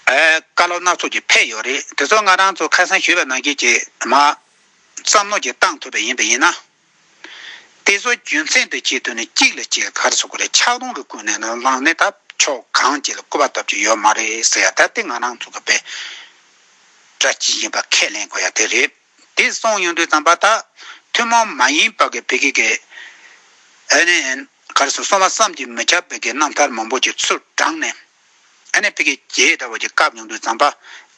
བཀའ་སློབ་སྣ་ཚོགས་ཀྱི་ཕེབས་ཡོད་རེད་དེ་ཚོ་ང་རང་ཚོ་ཁ་སང་ཞུས་པའི་ནང་ཁེལ་གྱིས་མ་བསམ་བློ་གྱིས་བཏང་ཐུབ་པ་ཡིན་པ་ཡིན་ན། དེ་ཚོ་རྒྱུ་མཚན་དུ་བྱས་དོན་ནི་གཅིག་ལ་གཅིག་གར་བཟོ་དགོས་རེད་ཕྱག་རྡུང་རུ་ཀུན་ནས་ལ་ལངས་ནས་ད་ཕྱོགས་གང་ཅི་ལ་སྐུར་པ་ཐོབ་ཀྱི་ཡོད་མ་རེད་ཟེར་ཡ་ད་དེ་ང་རང་ཚོ་གི་བེད་སྒྲ་ཇི་བཞིན་པ་ཁས་ལེན་དགོས་ཡ་དེ་རེད། དེ་སོང་ཡོང་དུས་བརྩམས་པ་དག་ཐུན་མོང་མ་ཡིན་པ་གི་བི་གི་གི། NAN། གར་སོང་བ་བསམ་གྱིས་མི་ཁྱབ་པའི་གི་རྣམ་ཐར་མང་པོ་ཀྱི་ཚུལ་བགྲངས་ནས། NA བི་གི་གི་ད་བར་གྱི་སྐབས་ཡོང་དུས་བརྩམས་པ།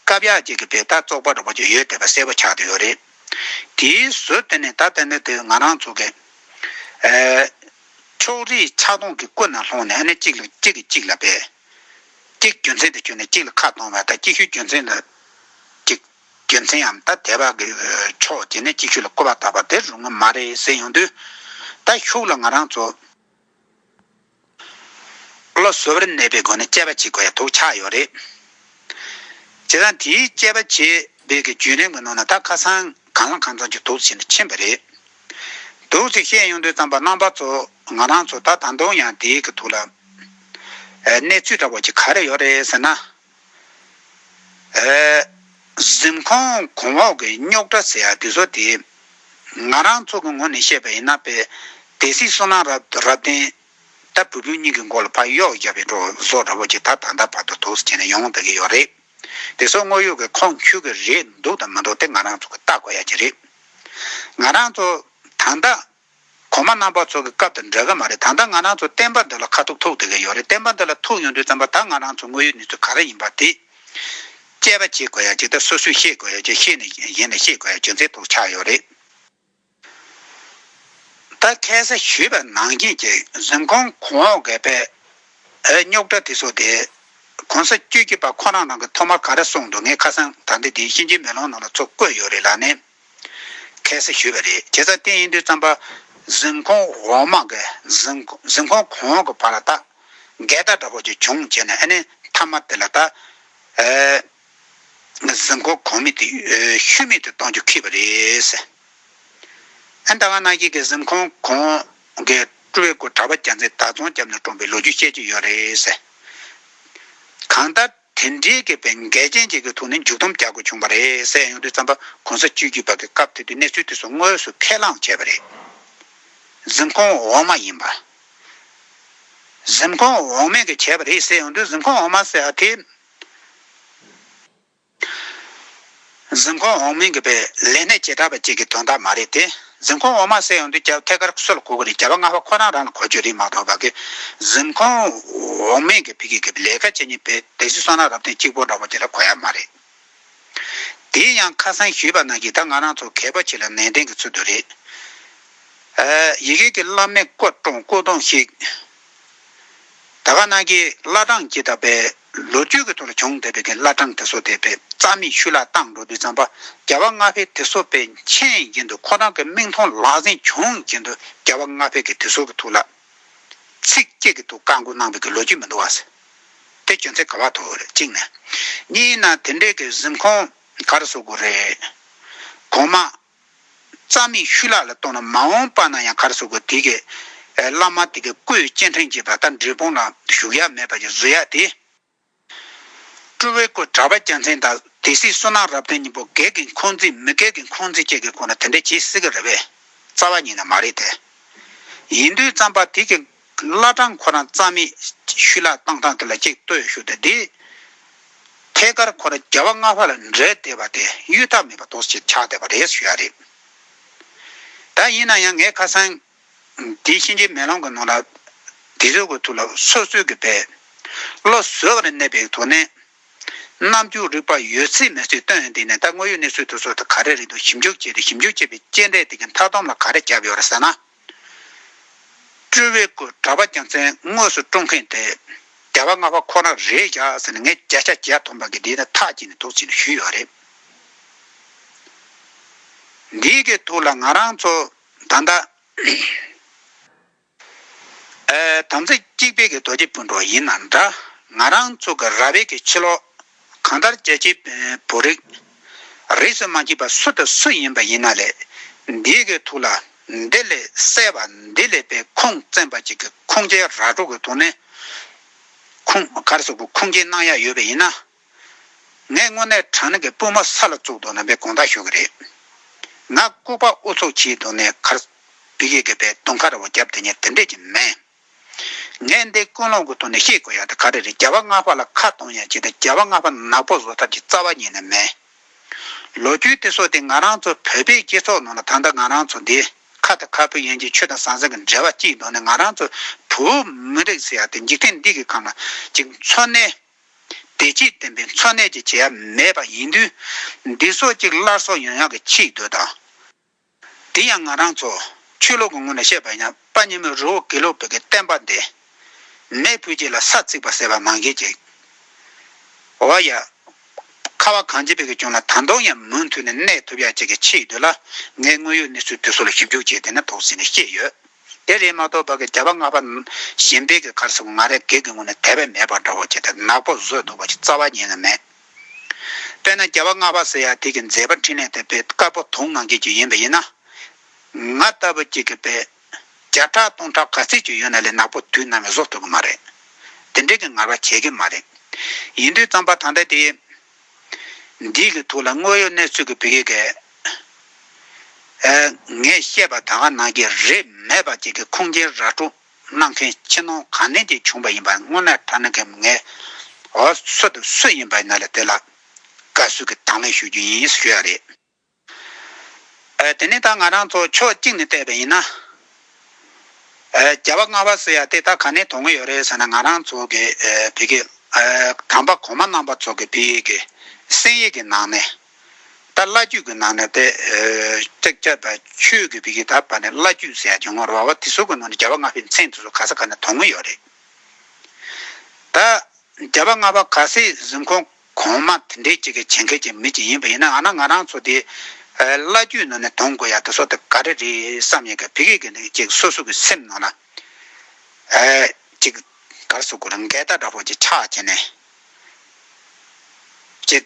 སྐབས་ཡག་ཅིག་གི་བི་ད་བཙོག་པ་འདྲ་བོ་ཅིག་ཡོད་བསྡད་པ་གསལ་པོ་ཆགས་བསྡད་ཡོད་རེད། དེའི་ཟོལ་དེ་ནས་ད་ལྟ་ནི་དེ་ང་རང་ཚོ་གི། ཕྱོགས་རིས་ཆགས་སྡང་གི་ཀུན་ན་ལྷུང་ནས་གཅིག་ལ་གཅིག་གིས་གཅིག་ལ་བལ། གཅིག་རྒྱུ་མཚན་དུ་བྱོན་ནས་གཅིག་ལ་ཁ་གཏོང་བ་དང་གཅིག་ཤོས་རྒྱུ་མཚན་ལ་གཅིག། རྒྱུ་མཚནའམ་ད་དེ་བག་གི་ཕྱོགས་དེ་ནས་གཅིག་ཤོས་ལ་བསྐོར་བ་བཏགས་པ་དེ་རུང་མ་རེད་ཟེར་ཡོང་དུས། ད་ཤུགས་ལ་ང་རང་ཚོ་བློ་གཟུ་བར་གནས་པའི་སྒོ་ནས་དཔྱད་པ་བྱེད་དགོས་ཡ་ཐུག་ཆགས་ཡོད་རེད། བྱས་ཙང་དེའི་དཔྱད་པ་བྱེད་སྦེད་ཀྱི་རྒྱུན་རིང་མི་ནོར་ན་ད་ཁ་སང་གངས་ལྷ་ཁང་ཚང་གཅིག་དུག་བྱེད་ནས་ཕྱིན་པ་རེད། དུག་ཅིག་བཤད་ཡོང་དུས་རྩམ་པ་རྣམ་པ་ཚོ་ང་རང་ཚོ་ད་ད་དུང་ཡང་དེའི་གི་ཐུག་ལ། གནས་ཚུལ་འདྲ་བོ་ཅིག་ག་རེ་ཡོད་རེད་ཟེར་ན། གཟིམ་ཁང་གོང་འོག་གི་རྙོག་དྲ་ཟེར་ཡག་གི་བཟོ་དེ། ང་རང་ཚོ་གི་ངོ་ནས་བཤད་པ་ཡིན་ན་དཔལ་ལྡན་སྲིད་བཟོ་ནང་རབ་བརྟན་ལྟ་བུ་བུ་གཉིས་ཀྱི་མགོ་ལ་ཕག་གཡོག་བརྒྱབ་པའི་འགྲོ་བཟོ་འདྲ་བོ་ཅིག་ད་ད་ལྟ་བར་དུ་དུག་སེལ་བྱས་ནས་ཡོང་བསྡད་ཀྱི་ཡོད་རེད། དེ་ཚོ་དངོས་ཡོད་ཀྱི་ཁོང་ཁྱུ་གི་རེད་འདུག་དང་མི་འདུག་དེ་ང་རང་ཚོ་གི་བལྟ་དགོས་ཡ་གྱི་རེད། ང་རང་ཚོ་ད་ལྟ་གོང་མ་རྣམ་པ་ཚོ་གི་སྐབས་དང་འདྲ་གི་མ་རེད་ད་ལྟ་ང་རང་ཚོ་བསྟན་པ་འདི་ལ་ཁ་ཐུག་ཐུག་དེ་གི་ཡོད་རེད་བསྟན་པ་འདི་ལ་ཐུག་ཡོང་དུས་ཙམ་པ་ད་ང་རང་ཚོ་དངོས་ཡོད་གནས་ཚུལ་ག་རེ་ཡིན་པ་དེ་དཔྱད་པ་བྱེད་དགོས་ཡ་ཅིག་ད་སོ་སོས་ཤེས་དགོས་ཡ་ཅིག་ཤེས་ནས་གཞན་ལ་ཤེས་དགོས་ཡ་ཅིག་མཛད་ཐུག་ཆགས་ཡོད་རེད་ད་ཁས་ས་ཞུས་པ་ནང་བཞིན་གྱི་གཟིམ་ཁང་གོང་འོག་གི་པའི་རྙོག་དྲ་དེ་ཚོ་དེ་གོང་ས་བཅུ་གཅིག་པ་ཁོ་རང་རང་གི་ཐོག་མར་ག་རེ་གསུངས་འདུག་ངས་ཁ་སང་ད་ལྟ་དེ་གཤིན་རྗེའི་མེ་ལོང་ནང་ལ་ཚོ་བཀོད་ཡོད་རེད་ལ་ནས། ཁས་བསུ་ཞུས་པ་རེད་ཁྱེད་ཚ་བརྟན་ཡིན་དུས་རྩམ་པ་གཟིམ་ཁོང་འོག་མ་འགས་གཟིམ་ཁོང་གོང་གི་བར་ལ་བལྟ། འགལ་ཟླ་འདྲ་པོ་ཅིག་བྱུང་བྱས་ནས་ཨ་ནི་མཐའ་མ་དེ་ལ་བལྟ། གཟིམ་ཁོང་གོང་མི་དེ་ཤུལ་མེད་དུ་གཏོང་རྒྱུ་ཁེལ་བ་རེད། ཨ་ཟླ་བ་ན་ཁྱེད་ཀྱིས་གཟིམ་ཁོང་གོང་གི་སྤྲུལ་སྐུ་གྲྭ་པ་རྒྱ་མཚན་དར་རྫོང་རྒྱབ་ནས་བཀྲོངས་པའི་ལོ་རྒྱུས་བཤད་ཀྱི་ཡོད་རེད། གང་ལྟར། དེ་འདྲའི་སྐྱེས་པའི་འགལ་རྐྱེན་ཅིག་གི་ཐོག་ནས་མཇུག་སྡོམ་རྒྱག་དགོས་བྱུང་བ་རེད་ཟེར་ཡོང་དུས་རྩམ་པ་གོང་ས་བཅོས་བསྒྱུར་བར་གྱི་སྐབས་དེ་དུས་གནས་ཚུལ་དེ་ཚོ་དངོས་སུ་ཁས་བླངས་བྱས་པ་རེད། གཟིམ་ཁང་འོག་མ་ཡིན་པ། གཟིམ་ཁང་འོག་མས་གིས་བྱས་པ་རེད་ཟེར་ཡོང་དུས་གཟིམ་ཁང་འོག་མ་ཟེར་བ་དེ། གཟིམ་ཁང་འོག་མིན་གྱི་པའི་ལས་སྣེ་བྱེ་བྲག་པ་གཅིག་གི་དོན་དག་མ་རེད་དེ། གཟིམ་ཁང་འོག་མ་གསལ་ཡོང་དུས་སྐྱ་བོ་ཐད་ཀར་གསོལ་ལ་གོ་གི་རེད་སྐྱ་བོ་ལྔ་བ་ཁོ་རང་རང་ལ་གོ་ཆོད་རིགས་མང་དྲགས་པ་གིས་གཟིམ་ཁང་འོག་མིན་གྱི་བི་གི་གི་ལས་ཀ་བྱེད་ཉིན་པའི་དེ་བཞིན་སོང་ན་རབ་བརྟན་གཅིག་པོ་འདྲ་བོ་དེ་ལ་གོ་ཡ་མ་རེད། དེའི་ཡང་ཁ་སང་ཞུས་པ་ན་ཡི་དྭགས་ང་རང་ཚོ་གད་པོ་ཆེ་ལ་ནན་ཏན་གྱི་ཚུལ་དུ་རེད། ཡི་གེ་གི་བླ་མའི་སྐོར་སྐྲུང་སྐུ་གདུང་ཞིག། ད་ག་ནང་གི་བླ་བྲང་སྐྱིད་ཐབ་པའི་ལོ་རྒྱུས་ཀྱི་ཐོག་ལ་བྱུང་བསྡད་པའི་དེ་བླ་བྲང་ཐེ་སོ་སྡེ་པའི་རྩ་མེད་ཤུལ་ལྷག་ཏང་འགྲོ་དུས་རྩམ་པ་རྒྱལ་བ་ལྔ་བྷེ་ཐེ་སོ་པའི་མཆན་གྱིན་དུ་ཁོ་རང་གི་མིག་མཐོང་ལག་ཟིན་བྱུང་གྱིན་དུ་རྒྱལ་བ་ལྔ་བྷེ་གི་ཐེ་སོ་གི་ཐུགས་ལ་ཚིག་སྐྱེད་ཀྱི་ཐུགས་བཀའ་འགུག་གནང་བའི་གི་ལོ་རྒྱུས་མི་འདུག་བ། དེ་གྱོན་ཚད་ག་བ་ཐུག་རེད་གཅིག་ནས། གཉིས་ན་དེ་འདྲའི་གི་གཟིམ་ཁང་ག་རེ་བཟོ་དགོས་རེད། གོང་མ། རྩ་མེད་ཤུལ་ལག་ལ་གཏོང་ན་མ་འོངས་པ་ན་ཡང་གར་སོག་གི་དེ་གའི། བླ་མ་དེ་གའི་སྐུའི་སྤྱན་འདྲེན་བྱེད་པ་ལྟར་འབྲས་སྤུངས་ལ་བཞུགས་ཡ་མེད་པ་ཀྱི་བཟོ་ཡ་དེ། སྤྲུལ་བའི་སྐུ་གྲགས་པ་རྒྱལ་མཚན་དང་དེ་སྲིད་བསོད་ནམས་རབ་བརྟན་སྙིང་པོ་གལ་གི་འཁོན་འཛིན་མི་གལ་གི་འཁོན་འཛིན་བཅས་ཀྱི་སྐོར་ན་དེ་འདྲ་བྱེད་སྲིད་ཀྱི་རེད་པས། རྩ་བ་ཉིད་ན་མ་རེད་དེ། ཡིན་དུས་བརྩམས་པ་དེ་གའི། བླ་བྲང་ཁོ་རང་རྩ་མེད་ཤུལ་ལག་བཏང་སྟངས་དེ་ལ་ཅིག་ལྟོས་ཞུ་དེ་འདི། ཐད་ཀར་ཁོ་རང་རྒྱལ་བ་ལྔ་བ་ལ་འདྲེས་བསྡད་པ་དེ་གཡུལ་ཐབས་མེད་པ་དོགས་ཅིག་ཆགས་བསྡད་པ་རེད་ཞུ་ཡ་རེད། ད་ཡིན་ན་ཡང་ངས་ཁ་སང། འདི་གཤིན་རྗེའི་མེ་ལོང་གི་ནང་ལ། འདི་ཟོས་དགོས་ཐུག་ལ་སོ་སོས་ཀྱི་བེད། བློ་བཟོད་ཀྱི་ནས་གནས་པའི་དོ་ནས། རྣམ་རྒྱུག་རིག་པ་ཡོད་ཚད་མེད་ཚུལ་སྟོན་དེ་ནས་ད་དངོས་ཡོད་གནས་ཚུལ་དུ་སོ་དེ་ག་རེ་རེད་འདུག་ཞིབ་འཇུག་བྱས་ཏེ་ཞིབ་འཇུག་བྱས་པའི་དཔྱད་འབྲས་དེ་གི་མཐའ་སྡོམ་ལ་ག་རེ་བརྒྱབ་ཡོད་རེད་ཟེར་ན། སྤྲུལ་བའི་སྐུ་དྲ་བ་རྒྱ་མཚན་དངོས་སུ་སྤྲོ་མཁན་དེ་རྒྱལ་བ་ལྔ་པ་ཁོ་ན་རེད་བཞག་ཟེར་ནས་ངས་བརྒྱ་ཆ་བརྒྱད་ཐོངས་པ་གི་འདི་ནི་ཐག་བཅད་ནས་འདུག་ཅེས་ནས་ཞུས་ཡོད་རེད། འདི་གི་ཐུགས་ལ་ང་རང་ཚོ་ད་ལྟ་དམ་ཚིག་གཅིག་དཔལ་གྱི་རྡོ་རྗེ་སྤུན་གྲོགས་ཡིན་ན་འདྲ་ང་རང་ཚོ་གི་ར་བའི་གི་ཕྱི་ལོགས། གང་ལྟར་རྒྱལ་སྤྱིའི་བོད་རིགས་རིས་སུ་མ་མཆིས་པ་སུ་དང་སུ་ཡིན་པ་ཡིན་ན་ལས་འདི་གི་ཐུགས་ལ་འདི་ལས་གསལ་བ་འདི་ལས་པའི་ཁུངས་བཙན་པ་གཅིག་གི་ཁུངས་སྐྱེལ་ར་སྒྲོག་གི་ཐོག་ནས་ཁུངས་སྐར་སོགས་ཀྱི་ཁུངས་སྐྱེལ་གནང་ཡ་ཡོད་པ་ཡིན་ན། ངས་དངོས་གནས་དྲང་ནག་གི་སྤུན་མོ་ས་ལ་བཙུགས་འདུག་ན་པའི་དགོངས་དག་ཞུ་གི་རེད། ང་ལྐུགས་པ་ཨུ་ཚུགས་བྱས་འདུག་ནས་ཁར་བི་གེ་གི་པའི་དུང་ཁ་ར་བ་རྒྱབ་དེ་ཉིད་དེ་འདྲས་ཀྱི་མེད། ངས་འདི་ཀུན་སློང་གི་ཐོག་ནས་ཤེས་དགོས་ཡག་དེ་ག་རེ་རེད་རྒྱལ་བ་ལྔ་པ་ལ་ཁ་གཏོང་ཡག་བྱས་ཏེ་རྒྱལ་བ་ལྔ་པ་ནག་པོ་བཟོ་ཐབས་ཀྱི་རྩ་བ་ཉིད་ནས་མེད། ལོ་རྒྱུས་དེ་སོགས་དེ་ང་རང་ཚོ་བོད་པའི་སྤྱི་ཚོགས་ནང་ལ་ད་ལྟ་ང་རང་ཚོ་འདི་ཁ་དང་ཁ་སྤུ་ཡན་གྱི་ཆོས་དང་ཟང་ཟིང་གི་འབྲེལ་བ་གཅིག་འདོར་ནས་ང་རང་ཚོ་བུ་མི་རིགས་ཟེར་ཡག་དེ་འཇིག་རྟེན་འདི་གི་ཁམས་ལ་གཅིག་འཚོ་གནས། བདེ་སྐྱིད་ལྡན་པའི་འཚོ་གནས་ཀྱི་བྱེད་ཡ་མེད་པ་ཡིན་དུས་འདི་སོགས་གཅིག་སླར་གསོ་ཡང་ཡང་གི་ཕྱིས་སྡོད་དང། དེ་ཡང་ང་རང་ཚོ་ཆོས་ལུགས་ཀྱི་ངོས་ནས་བཤད་པ་ཡིན་ན་པ་ཉི་མའི་རི་བོ་དགེ་ལུགས་བོད་ཀྱི་བསྟན་པ་འདི་མེས་ཕུད་ཅིག་ལ་ས་བརྩིགས་པ་ཟེར་བ་མང་གི་ཅིག་འོ་ཡ། ཁ་བ་གངས་ཅན་བོད་ཀྱི་གྱོང་ལ་ད་དུང་ཡང་མུ་མཐུད་ནས་གནས་ཐུབ་ཡ་ཅིག་གི་ཆེད་ཡོད་དོ་ལ་ངས་དངོས་ཡོད་གནས་ཚུལ་དེ་ཚོ་ལ་ཞིབ་འཇུག་བྱས་དེ་ནས་དོགས་ཟིན་ནས་ཤེས་ཡོད་དེ་རེད་མ་གཏོགས་བར་གྱི་བྱ་བ་སྔ་བ་གཞན་པའི་གི་གར་ཟེར་བ་ང་རེ་འགས་ཀྱི་ངོས་ནས་དད་པའི་མེད་པ་འདྲ་བོ་ཅིག་དང་ནག་པོ་བཟོས་འདུག་པ་ཅིག་རྩ་བ་ཉན་གི་མེད། དཔེར་ན་རྒྱལ་བ་ལྔ་པ་ཟེར་ཡང་དེ་གི་མཛད་པ་འཕྲིན་ལས་དེ་དཔེ་དཀར་པོ་དུང་ནང་ཁྱེད་ཀྱི་ཡིན་པ་ཡིན་ན། ང་ལྟ་བུ་གཅིག་གི་དཔེ་བརྒྱ་ཕྲག་སྟོང་ཕྲག་ག་ཚད་ཅིག་ཡོད་ན་ལས་ནག་པོ་དུས་ནམ་ཡང་བཟོ་ཐུབ་གི་མ་རེད། དེ་འདྲས་ཀྱི་ངར་བ་བྱེད་གི་མ་རེད། ཡིན་དུས་རྩམ་པ་ཐང་ཐད་དེ། འདིས་ཀྱི་ཐུགས་ལ་དངོས་ཡོད་གནས་ཚུལ་གྱི་བུ་གེ་གེ། ངས་བཤད་པ་ད་ག་ནང་གྱི་རེད་མེད་པ་གཅིག་གི་ཁུངས་སྐྱེལ་ར་སྤྲོ། གནང་མཁན་ཕྱི་ནང་གང་ནས་ཀྱིས་བྱུང་པ་ཡིན་པ་དངོས་གནས་མཐའ་ན་གི་མི་ངན་འོ་སོ་དེ་སུ་ཡིན་པ་ཡིན་ལ་དེ་ལ་བཀའ་ཟུར་གྱི་དང་ལེན་ཞུ་རྒྱུ་ཡིན་ཞེས་ཞུ་ཡ་རེད་ཨ་དེ་ནས་ད་ང་རང་ཚོ་ཕྱོགས་གཅིག་ནས་བལྟས་པ་ཡིན་ན་ཨ་རྒྱ་བ་རྔ་བ་ཟེར་ཡ་དེ་ད་ག་ནས་དོན་གི་ཡོད་རེད་ཟེར་ན་ང་རང་ཚོ་གི་བོད་ཀྱི་ཨ་དམ་པ་གོང་མ་རྣམ་པ་ཚོ་གི་བོད་ཡིག་གི་གསན་ཡིག་གི་ནང་ནས། ད་བླ་རྒྱུད་ཀྱི་ནང་ནས་དེ། ལྕགས་ཀྱ་དང་ཆོས་ཀྱི་བི་གི་ད་བར་ནས་བླ་རྒྱུད་ཟེར་ཡག་ཀྱང་ངོ་ར་བ་དེ་ཟུར་ཀྱི་ནང་ནས་རྒྱལ་བ་ལྔ་པའི་མཚན་དེ་ཟུར་ག་ས་ག་ནས་དོར་མོ་ཡོད་རེད། ད། རྒྱལ་བ་ལྔ་པ་ག་སའི་གཟིམ་ཁང་གོང་མ་དེ་འདྲའི་ཅིག་གི་བྱེད་མཁན་གྱི་མི་ཅིག་ཡིན་པ་ཡིན་ནའང་ན་ང་རང་ཚོ་དེ། བླ་རྒྱུད་ནང་ནས་དོར་དགོས་ཡག་དེ་སོགས་དེ་ག་རེ་རེད་བསམ་ཡིན་ཀྱང་བི་གི་གི་ནི་ཅིག་སོ་སོ་ཀྱི་སེམས་ནང་ན། ཅིག། གར་སོ་གུ་རུ་མགལ་ད་དྲ་བོ་ཅིག་ཆགས་བྱས་ནས། ཅིག།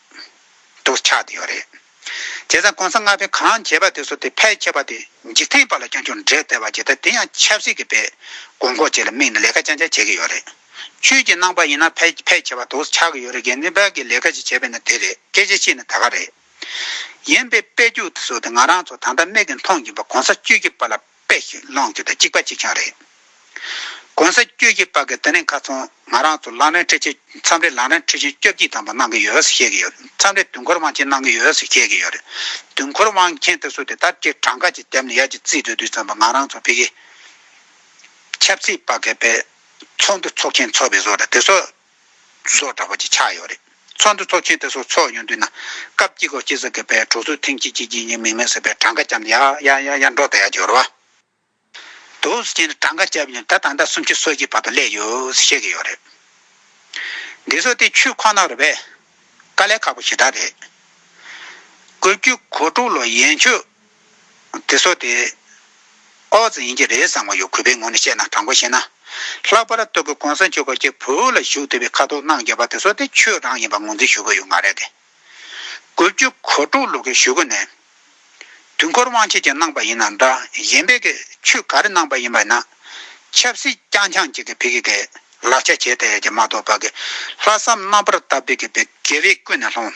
དུ་ཆགས་ཡོད་རེད། དེ་ཚང་གོང་ས་ལྔ་པས་གང་བྱས་པ་དེ་ཚོ་དེ་ཕལ་ཆེ་བ་དེ་འཇིག་རྟེན་པ་ལ་ཀྱང་ཅུང་འབྲེལ་ལྟ་བ་བྱེད་ད་དེ་ཡང་ཆབ་སྲིད་ཀྱི་པས་དགོས་མཁོ་བཅས་ལ་དམིགས་ནས་ལས་ཀ་ལྕང་ལྕང་བྱེད་ཀྱི་ཡོད་རེད། ཆོས་ཀྱི་ནང་པ་ཡིན་ན་ཕལ་ཕལ་ཆེ་བ་དུ་ཆགས་ཀྱི་ཡོད་རེད་དགེ་འདུན་པ་གིས་ལས་ཀ་ཅིག་བྱས་པས་ན་དེ་རེད་སྐད་ཆ་ཤི་ན་ད་ག་རེད། ཡིན་པའི་དཔེ་རྒྱུགས་དེ་ཚོ་དེ་ང་རང་ཚོ་ད་ལྟ་མིག་གིས་མཐོང་གིན་པ་གོང་ས་བཅུ་གཅིག་པ་ལ་པེ་ཞིག་སློང་རྒྱུ་དང་གཅིག་པ་གཅིག་རྐྱང་རེད། གོང་ས་བཅུ་གྱིས་པ་གི་དེ་ནས་ཁ་ཚོང་ང་རང་ཚོ་ལག་ལེན་འཁྲི་ཆེད་མཚམས་རེ་ལག་ལེན་འཁྲི་ཆེད་སྐྱོབ་ཀྱིས་དམ་པ་གནང་གི་ཡོད་ཟེར་བཤད་ཀྱི་ཡོད་མཚམས་རེ་དུས་འཁོར་དབང་ཆེན་གནང་གི་ཡོད་ཟེར་བཤད་ཀྱི་ཡོད་རེད་དུས་འཁོར་དབང་མཁན་དེ་ཚོ་དེ་ལྟར་ཀྱི་གྲངས་ཀ་ཅིག་བརྒྱབ་ནས་ཡར་གྱི་རྩིས་སྤྲོད་དུས་ཚང་མ་ང་རང་ཚོ་བེ་གི་ཆབ་སྲིད་པ་གི་པའི་ཚོགས་འདུ་ཚོགས་མཁན་ཚོགས་པའི་བཟོ་ར་དེ་ཚོ་སོགས་གྲགས་པ་གཅིག་ཆགས་ཡོད་རེད། ཚོགས་འདུ་ཚོགས་ཆེད་དེ་སོགས་ཚོགས་ཡོང་དུས་ན། སྐབས་གཅིག་གོ་སྐྱེས་ཟེར་མཁན་པས་གྲོགས་ཚོས་ཐེངས་གཅིག་གཅིག་གཅིག་གཉིས་མིག་མེད་ཟེར་པས་གྲངས་ཀ་བྱམས་ཡ་ཡ་ཡ་ཡ་འགྲོ་ད་ཡ་གྱི་རུ་དུ་ཟེར་གྱིན་གྲངས་ཀ་བྱས་པ་ཡང་ད་ད་ཟླ་སུམ་ཅུ་སོ་གཅིག་བར་དུ་སླེབས་ཡོད་བཤད་ཀྱི་ཡོད་རེད། འདི་ཚོ་དེ་ཆུས་ཁོ་ན་རུ་བས། དཀའ་ལས་ཁག་པོ་ཞེ་དྲག་རེད། བཀོད་བརྒྱུད་གོ་དྲུག་ལོ་ཡན་ཆོད། དེ་སོགས་ཏེ། ཨོ་རྩི་ཡིན་གྱི་རེད་བསམ་བ་ཡོད་གུས་པའི་ངོ་ནས་བཤད་ན་དྲང་པོ་བཤད་ན། ལྷག་པར་སྟོད་གོས་གོང་ས་མཆོག་གི་སྐྱེ་བོ་ལ་ཞུགས་འདོད་པའི་ཁ་དོག་སྣང་རྒྱ་བ་དེ་སོགས་ཏེ་ཆོས་རང་ཡིན་པ་ངོས་འཛིན་ཞུ་གི་ཡོད་མ་རེད་དེ། དགུ་བཅུ་གོ་དྲུག་ལོ་གི་ཞུ་གི་ནས། དུས་འཁོར་དབང་ཆེད་ཀྱི་གནང་པ་ཡིན་ན་འདྲ་གཞན་པའི་གི་ཆོས་ག་རེ་གནང་པ་ཡིན་པ་ཡིན་ན། ཆབ་སྲིད་རྐྱང་འཁྱང་ཅིག་གི་བི་གི་གི་ལག་ཆ་བྱས་ཐལ་ཡ་གྱི་མ་གཏོགས་པ་གི་ལྷག་བསམ་རྣམ་པར་དག་བི་གི་བི་དགེ་བས་ཀུན་ནས་སློང།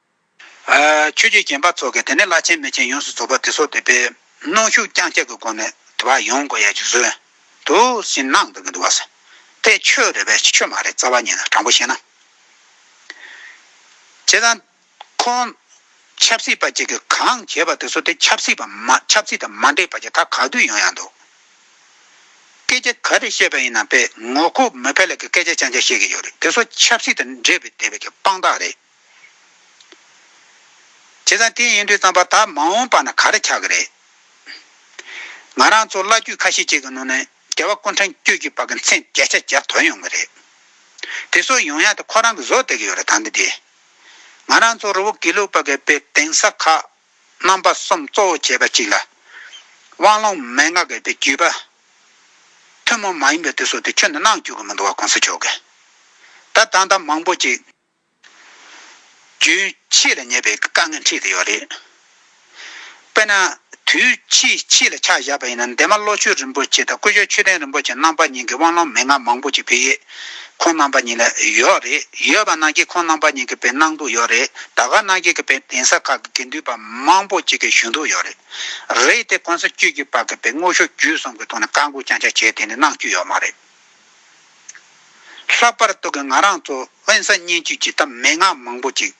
ཆོས་རྒྱུད་རྒན་པ་ཚོ་གིས་དེ་ནས་བླ་ཆེན་མི་ཆེན་ཡོངས་སུ་ཚོགས་པ་དེ་ཚོ་དེ་པའི་གནོང་ཤུགས་རྐྱང་བསྐྱལ་གྱི་སྒོ་ནས་དེ་བ་ཡོང་དགོས་ཡ་གྱི་བཟོས་འདུག་ཞེས་གནང་འདུག་གི་འདུག་བ། དེ་ཆོས་རེད་བས་ཆོས་མ་རེད་རྩ་བ་ཉིད་ནས་དྲང་པོ་བཤད་ན། བྱས་ཙང། ཁོང། ཆབ་སྲིད་པ་གཅིག་གིས་གང་བྱས་པ་དེ་ཚོ་དེ་ཆབ་སྲིད་པ་མ་ཆབ་སྲིད་དང་མ་འདྲེས་པ་གྱི་ད་ག་དུས་ཡོང་ཡ་འདུག། སྐད་ཆ་ག་རེ་བཤད་པ་ཡིན་ནམ་པས་ངོ་ཁུག་མི་ཕལ་ལས་ཀྱི་སྐད་ཆ་ཅང་ཅང་བཤད་ཀྱི་ཡོད་རེད་དེ་ཚོ་ཆབ་སྲིད་དང་འདྲེས་པའི་དེ་བས་ཀྱི་དཔང་རྟགས་རེད། བྱས་ཙང་དེ་ཡིན་དུས་བརྩམས་པ་དག་མ་འོངས་པ་ན་ག་རེ་ཆགས་ཀྱི་རེད། ང་རང་ཚོ་བླ་རྒྱུད་ཁ་ཤས་ཅིག་གི་ནང་ནས་རྒྱལ་བ་ཀུན་དྲང་སྐྱོད་ཀྱི་བར་གྱི་མཚན་བརྒྱད་ཆ་བརྒྱ་དོར་ཡོང་གི་རེད། དེ་སོགས་ཡོང་ཡག་དེ་ཁོ་རང་གི་བཟོ་བསྡད་ཀྱི་ཡོད་རེད་ད་འདི་དེ། ང་རང་ཚོ་རི་བོ་དགེ་ལུགས་པ་གའི་དཔེ་དེང་ས་ཁག་རྣམ་པ་གསུམ་གཙོ་བོ་བྱས་པ་ཅིག་ལ། དབང་ལུང་མན་ངག་གི་དཔེ་བརྒྱུད་པ། ཐུན་མོང་མ་ཡིན་པའི་དེ་སོགས་དེ་ཁྱོན་ནས་གནང་བཅུག་གི་མི་འདུག་བ་གོང་ས་མཆོག་གིས་ད་ད་ལྟ་མང་པོ་ཅིག། རྒྱུན་ཆད་ལ་ཉེ་བའི་དཀའ་ངལ་འཕྲད་ཀྱི་ཡོད་རེད། དཔེར་ན། དུས་ཕྱིས་ཕྱིས་ལ་ཆ་བཞག་པ་ཡིན་ན་འདན་མ་བློ་ཆོས་རིན་པོ་ཆེ་དང་སྐུ་ཞབས་ཆོས་ལྡན་རིན་པོ་ཆེ་རྣམ་པ་གཉིས་ཀྱི་དབང་ལུང་མན་ངག་མང་པོ་ཅིག་བོད་ཡིག་ཁོང་རྣམ་པ་གཉིས་ལ་ཡོད་རེད། ཡོད་པ་ནང་བཞིན་ཁོང་རྣམ་པ་གཉིས་ཀྱི་བེད་གནང་འདུག་ཡོད་རེད་ད་ག་ནང་བཞིན་གྱི་བེད་གདན་ས་ཁག་གི་དགེ་འདུན་པ་མང་པོ་ཅིག་གིས་ཞུ་འདུག་ཡོད་རེད། རེད་དེ་གོང་ས་བཅུ་གཅིག་པ་གི་བེད་དངོས་ཤོག་བརྒྱུད་གསུམ་གྱི་ཐོག་ནས་བཀའ་འགུག་རྐྱང་རྐྱང་བྱས་ཏེ་ནས་གནང་བཅུག་ཡོད་མ་རེད། ལྷག་པར་སྟུ་གི་ང་རང་ཚོ་དབེན་ས་སྙན་བརྒྱུད་ཀྱི་གཏམ་མན་ངག་མང་པོ་ཅིག།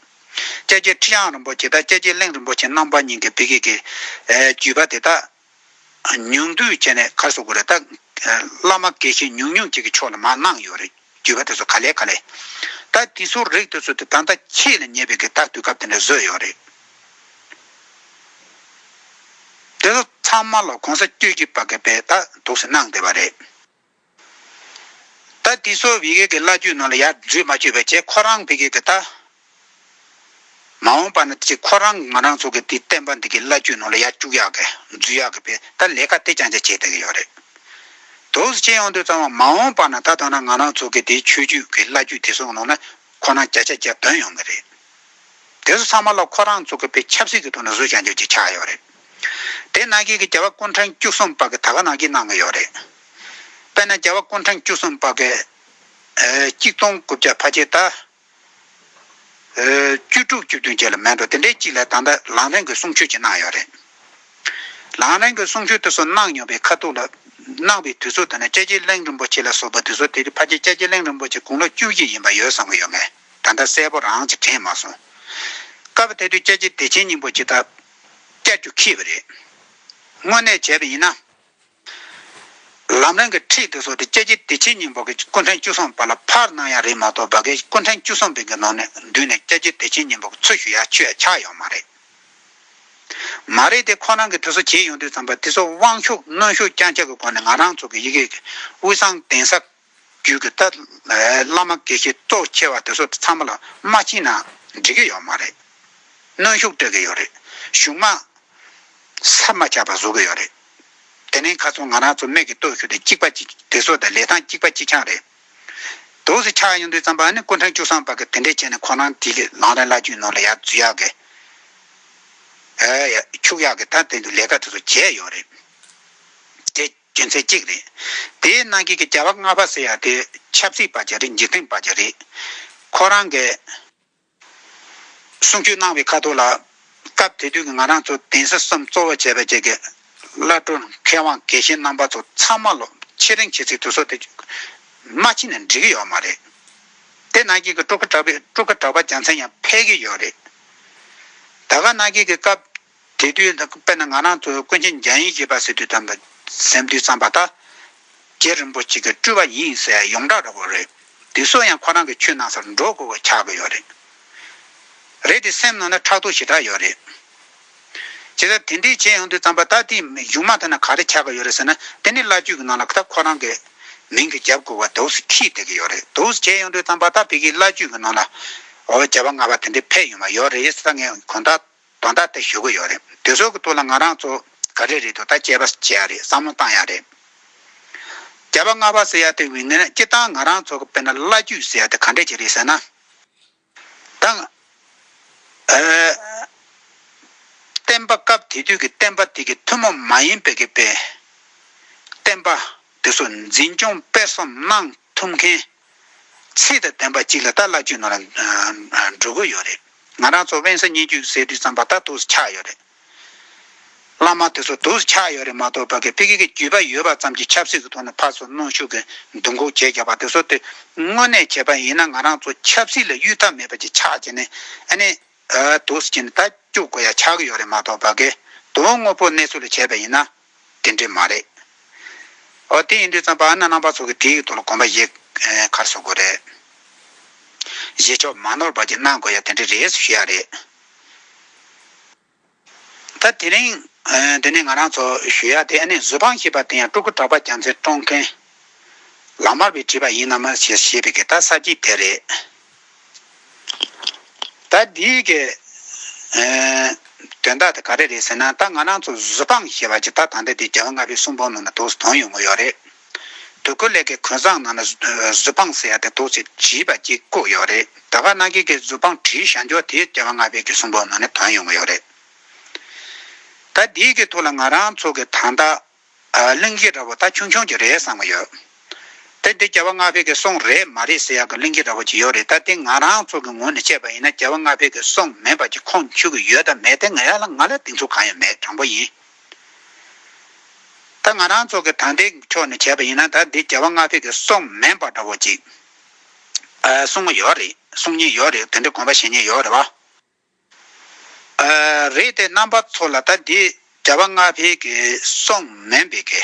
ཀྱ་ཀྱི་ཁྲི་གཡང་རིན་པོ་ཆེ་དང་ཀྱ་ཀྱི་གླིང་རིན་པོ་ཆེ་རྣམ་པ་གཉིས་ཀྱི་བི་གེ་གི་བརྒྱུད་པ་དེ་དག་ཉུང་བསྡུས་བྱས་ནས་གར་སོགས་དགོས་རེད་ད། བླ་མ་དགེ་བཤེས་ཉུང་ཉུང་ཅིག་གི་ཕྱོགས་ལ་མ་གནང་ཡོད་རེད་བརྒྱུད་པ་དེ་ཚོ་ག་ལས་ག་ལས། ད་དེ་ཚོ་རིགས་དེ་ཚོ་དེ་ད་ལྟ་ཁྱེད་ལ་ཉེ་བའི་གི་དག་དུས་སྐབས་དེ་འདྲ་བཟོས་ཡོད་རེད། དེ་ཚོ་ཚང་མ་ལ་གོང་ས་སྐྱོད་ཀྱི་བ་གེ་པས་ད་དུག་སེ་གནང་བསྡད་པ་རེད། ད་ཏི་སོ་བྷི་ཀེ་གི་བླ་རྒྱུད་ནང་ལ་ཡར་འཛུལ་མ་བྱོས་པའི་ཆེད་ཁོ་རང་བྷི་ཀེ་གི་ད། མ་འོངས་པ་ན་ཅི་ཁོ་རང་ང་རང་ཚོ་གི་དེའི་བསྟན་པ་འདི་གི་བླ་རྒྱུད་ནང་ལ་ཡར་བཅུག་ཡག་གི་འཛུལ་ཡག་གི་བྷི་ད་ལས་ཀ་དེ་རྐྱང་རྐྱང་བྱེད་བསྡད་གི་ཡོད་རེད། དོགས་སུ་ཆེ་ཡོང་དུས་ཙང་བ་མ་འོངས་པ་ན་ད་ཐོག་ན་ང་རང་ཚོ་གི་དེའི་ཆོས་རྒྱུད་གི་བླ་རྒྱུད་དེ་ཚོ་ནང་ན་ཁོ་རང་བརྒྱ་ཆ་བརྒྱ་འདོན་ཡོང་གི་རེད། དེ་ཚོ་ཚང་མ་ལ་ཁོ་རང་ཚོ་གི་བྷི་ཆབ་སྲིད་ཀི་ཐོག་ན་བཟོད་བྱ་འཇོག་ཅིག་ཆགས་ཡོད་རེད། དེ་ནང་གི་རྒྱལ་བ་སྐུ་འཕྲེང་བཅུ་གསུམ་པ་གི་ད་ག་ནང་གི་གནང་གི་ཡོད་རེད། དཔེར་ན་རྒྱལ་བ་སྐུ་འཕྲེང་བཅུ་གསུམ་པ་གི། གཅིག་སྟོང་དགུ་བརྒྱ་ཕ་ཆེ་ད། བཅུ་དྲུག་བཅུ་བདུན་བརྒྱད་ལ་མེད་འགྲོ་དེ་འདྲའི་གཅིག་ལས་ད་ལྟ་ལང་རིང་གི་གསུང་ཆོས་ཅིག་གནང་ཡོད་རེད། ལང་རིང་གི་གསུང་ཆོས་དེ་ཚོ་གནང་མྱོང་པའི་ཁ་ཐུག་ལ། གནང་བའི་དུས་ཚོད་དེ་ནི་ཅད་ཅི་གླིང་རིན་པོ་ཆེ་ལ་སོགས་པ་དེ་ཚོ་དེ་རིང་ཕ་ཆེ་ཅད་ཅི་གླིང་རིན་པོ་ཆེ་དགུང་ལོ་བཅུ་བཞི་ཡིན་པ་ཡོད་བསམ་གི་ཡོད་མེད་ད་ལྟ་གསལ་པོ་རང་གིས་དྲན་མ་སོང། སྐབས་དེ་དུས་ཅད་ཅི་བདེ་ཆེན་སྙིང་པོ་ཅིག་ད། བསྐྱལ་རྒྱུ་ཁེ་བ་རེད། དངོས་གནས་བྱས་པ་ཡིན་ན། ལམ་རིང་གི་ཁྲིད་དེ་སོགས་དེ་སྐྱེད་ཀྱི་བདེ་ཆེན་སྙིང་པོ་གི་སྐུ་འཕྲེང་བཅུ་གསུམ་པ་ལ་ཕར་གནང་ཡག་རེད་མ་གཏོགས་བ་གའི་སྐུ་འཕྲེང་བཅུ་གསུམ་པའི་གི་ནང་ནས་མདུན་ནས་སྐྱེད་ཀྱི་བདེ་ཆེན་སྙིང་པོ་གི་ཚུལ་ཞུ་ཡ་ཆོས་ཆག་ཡོང་མ་རེད། མ་རེད་དེ་ཁོ་རང་གི་དེ་སོགས་བྱེད་ཡོང་དུས་ཙམ་པ་དེ་སོགས་དབང་ཤུགས་གནོན་ཤུགས་རྐྱང་ཆག་གི་སྒོ་ནས་ང་རང་ཚོ་གི་ཡི་གེ་གི་དབུས་གསང་གདན་ས་རྒྱུད་ཀྱི་ཏཱ་བླ་མ་དགེ་བཤེས་གཙོ་ཆེ་བ་དེ་ཚོ་ཚང་མ་ལ་མ་ཕྱིན་ན་འགྲིག་གི་ཡོད་མ་རེད། གནོན་ཤུགས་སྤྲོད་ཀྱི་ཡོད་རེད། གཞུང་མ་ཟབ་མ་ཆགས་པ་བཟོ་གི་ཡོད་རེད། དེ་ནས་ཁ་ཚོན་ང་རང་ཚོ་མེད་ཀྱི་སྟོད་ཤུལ་དུ་གཅིག་པ་གཅིག་དེ་ཚོ་དང་ལས་སྟངས་གཅིག་པ་གཅིག་ཆང་རེད། དོགས་སུ་ཆགས་ཡོང་དུས་ཙམ་པ་ཨ་ནི་སྐུ་ཕྲེང་བཅུ་གསང་བར་གི་དེ་འདྲས་བྱས་ནས་ཁོ་རང་དེ་གི་ལང་རེ་བླ་རྒྱུད་ནང་ལ་ཡར་འཛུལ་ཡག་གི། ཡར་ཆུག་ཡག་གི་ད་དེ་འདུག་ལས་ཀ་དེ་ཚོ་བྱས་ཡོད་རེད་དེ། རྒྱུ་མཚན་གཅིག་རེད། དེའི་གནང་སྐྱེས་ཀྱི་བྱ་བ་ལྔ་པ་ཟེར་ཡག་དེ་ཆབ་སྲིད་པ་གྱི་རེད་འཇིག་རྟེན་པ་གྱི་རེད། ཁོ་རང་གིས་གསུང་ཆོས་གནང་བའི་ཁ་ཐོག་ལ། སྐབས་དེ་དུས་ཀྱི་ང་རང་ཚོ་དེང་སྲིད་གསུམ་གཙོ་བོ་བྱས་པའི་བཅས་ཀྱི་བླ་སྤྲུལ་མཁས་དབང་གལ་ཆེན་རྣམ་པ་ཚོ་ཚང་མ་ལོ་ཕྱེད་རིང་བྱེད་སའི་དུས་སོགས་དེ་མ་ཕྱིན་ནས་འགྲིག་གི་ཡོད་མ་རེད། དེ་གནང་སྐྱེས་ཀྱི་སྤྲོ་དགའ་དྲགས་པའི་སྤྲོ་དགའ་དྲགས་པ་རྒྱ་མཚན་ཡང་འཕེལ་གྱི་ཡོད་རེད། ད་ག་གནང་སྐྱེས་ཀྱི་སྐབས་དེ་དུས་ད་དཔེར་ན་ང་རང་ཚོ་ཀུན་མཁྱེན་རྒྱ་ཡིན་ཞེས་པ་ཟེར་དུས་དམ་པ་སེམས་དུས་བརྩམས་པ་ཐག་རྒྱལ་རིན་པོ་ཆེ་གི་སྤྲུལ་བ་ཡིན་ཟེར་ཡོངས་གྲགས་ར་བ་རེད་དེ་སུ་ཡང་ཁོ་རང་གི་ཆོས་གནང་སར་འགྲོ་དགོས་པ་ཆགས་ཀྱི་ཡོད་རེད་རེད་དེ་སེམས་ནང་ན་ཕྲག་དོག་ཞེ་དྲག་ཡོད་རེད། བྱས་ཙང་དེ་འདྲས་བྱས་ཡོང་དུས་དམ་པ་ད་ལྟའི་གཞུང་མང་ཐད་ན་ག་རེ་ཆགས་ཀྱི་ཡོད་རེད་ཟེར་ན་དེ་ནི་བླ་སྤྱོད་ཀྱི་ནང་ལ་ད་ཁོ་རང་གི་མིང་གི་རྒྱབ་དགོས་པ་དུག་སེ་ཁིད་བསྡད་ཀྱི་ཡོད་རེད་དུག་སེ་བྱས་ཡོང་དུས་དམ་པ་ད་བོད་ཀྱི་བླ་སྤྱོད་ཀྱི་ནང་ལ་བྱ་བ་སྔ་བ་དེ་འདྲས་ཕེབས་ཡོང་བ་ཡོད་རེད་ད་ངས་གོང་ད། དོན་དག་དེ་ཞུ་གི་ཡོད་རེད་དེ་ཚོ་གི་ཐུགས་ལ་ང་རང་ཚོ་ག་རེ་རེད་དོ་ད་དཔྱད་པ་བྱས་ཡ་རེད་བསམ་བློ་བཏང་ཡ་རེད། བརྒྱ་པ་ལྔ་པ་ཟེར་ཡ་དེ་བི་ནི་སྤྱི་བཏང་ང་རང་ཚོ་གི་དཔེར་ན་བླ་རྒྱུད་ཟེར་ཡ་དེ་ག་འདྲ་ཅིག་རེད་ཟེར་ན། ད། བསྟན་པ་སྐབས་དེ་དུས་ཀྱི་བསྟན་པ་དེ་གི་ཐུན་མོང་མ་ཡིན་པའི་གི་བསྟན་པ་དེ་ཚོ་འཛིན་སྐྱོང་སྤེལ་གསུམ་གནང། ཐུབ་མཁན། ཚིག་དང་ལྡན་པ་གཅིག་ལ་ད་བླ་བརྒྱུད་ནང་ལ་འགྲོ་གི་ཡོད་རེད། ང་རང་ཚོ་དབེན་ས་གཉིས་བརྒྱུད་སེ་འབྲུག་ཙམ་པ་ད་དུག་སུ་ཆགས་ཡོད་རེད། བླ་མ་དེ་ཚོ་དུག་སུ་ཆགས་ཡོད་རེད་མ་གཏོགས་བོད་ཀྱི་ཀྱི་བརྒྱུད་པ་ཡོད་པ་ཙམ་གྱིས་ཆབ་སྲིད་ཀྱི་ཐོག་ནས་ཕར་ཚུར་གནོན་ཤུགས་ཀྱི་འདུ་འགོག་བྱེད་རྒྱག་པ་དེ་ཚོ་དེ་དངོས་གནས་བྱས་པ་ཡིན་ན་ང་རང་ཚོ་ཆབ་སྲིད་ལ་གཡུལ་ཐབས་མེད་པ་གྱི་ཆགས་ཀྱི་ནི་ཨ་ནི་དུག་སུ་གྱི་ནི་ད་སྐྱུག་དགོས་ཡ་ཆགས་ཀྱི་ཡོད་རེད་མ་གཏོགས་བོད་ཀྱི་དུག་དངོས་པོ་གནས་ཚུལ་ལ་བྱས་པ་ཡིན་ན། དེ་འདྲས་མ་རེད། ཨོ་དེ་ཡིན་དུས་ཙམ་པར་ན་རྣམ་པ་ཚོ་གི་དེའི་ཐོག་ལ་གོམ་པ་བཞེས་ཁར་བཟོ་དགོས་རེད། བཞེས་ཆོག་མ་ནོར་བར་གྱི་གནང་དགོས་ཡ་དེ་འདྲས་རེད་ཞུ་ཡ་རེད། ད་དེ་རིང་དེ་ནས་ང་རང་ཚོ་ཞུ་ཡ་དེ་ཨ་ནེ་བཟོད་དཔང་ཞེས་པ་དེ་ཡང་སྤྲུལ་སྐུ་གྲགས་པ་རྒྱ་མཚན་སྤྲོ་མཁན་ལགས་མར་བས་བྲིས་པ་ཡིན་ནམ་ཞེས་པའི་གི་ད་ས་སྐྱིད་དེ་རེད། ད་འདི་གི་དོན་དག་དེ་ག་རེ་རེད་ཟེར་ན་ད་ང་རང་ཚོ་གཟུ་དཔང་ཞེས་པ་ཅིག་ད་ད་ལྟ་འདི་རྒྱལ་བ་ལྔ་པའི་གསུང་འབུམ་ནང་ན་དུག་གཟུ་དོན་ཡོང་གི་ཡོད་རེད། དུག་གི་ལས་ཀའི་གོས་བཟང་ནང་ན་གཟུ་དཔང་ཟེར་ཡ་དེ་དུག་ཅིག་བྱིས་པ་གཅིག་བཀུག་ཡོད་རེད་ད་ག་ནང་གི་གི་གཟུ་དཔང་བྲིས་བཞག་འགྱོ་དེ་རྒྱལ་བ་ལྔ་པའི་གི་གསུང་འབུམ་ནང་ན་དོན་ཡོང་གི་ཡོད་རེད། ད་འདི་གི་ཐུགས་ལ་ང་རང་ཚོ་གི་ད་ད། གླིང་བཞི་འདྲ་བོ་ད་ཆུང་ཆུང་གྱི་རེད་བསམ་གི་ཡོད། དེ་འདི་རྒྱལ་བ་སྔགས་ཕེབས་ཀྱི་གསུང་རེད་མ་རེད་ཟེར་ཡག་གི་གླིང་བཞི་འདྲ་བོ་ཅིག་ཡོད་རེད་ད་དེ་ང་རང་ཚོ་གི་ངོས་ནས་བཤད་པ་ཡིན་ན་རྒྱལ་བ་སྔགས་ཕེབས་ཀྱི་གསུང་མིན་པ་ཅིག་ཁོང་ཆུད་ཀྱི་ཡོད་དམ་མེད་དེ་ང་ཡག་ལ་ང་ལ་དེང་ཚུགས་གང་ཡང་མེད་དྲང་པོ་ཡིན། ད་ང་རང་ཚོ་གི་ད་འདི་ཕྱོགས་ནས་བྱས་པ་ཡིན་ན་ད་འདི་རྒྱལ་བ་སྔགས་ཕེབས་ཀྱི་གསུང་མིན་པ་འདྲ་བོ་ཅིག་གསུང་མོ་ཡོད་རེད་གསུང་ཉེན་ཡོད་རེད་དེ་འདྲའི་དགོངས་པ་བཞེས་ཉེན་ཡོད་རེད་བ། རེད་དེ་རྣམ་པ་ཚོ་ལ་ད་འདི་རྒྱ་བ་ལྔ་འཕེལ་གི་སོང་མེན་པེ་གི་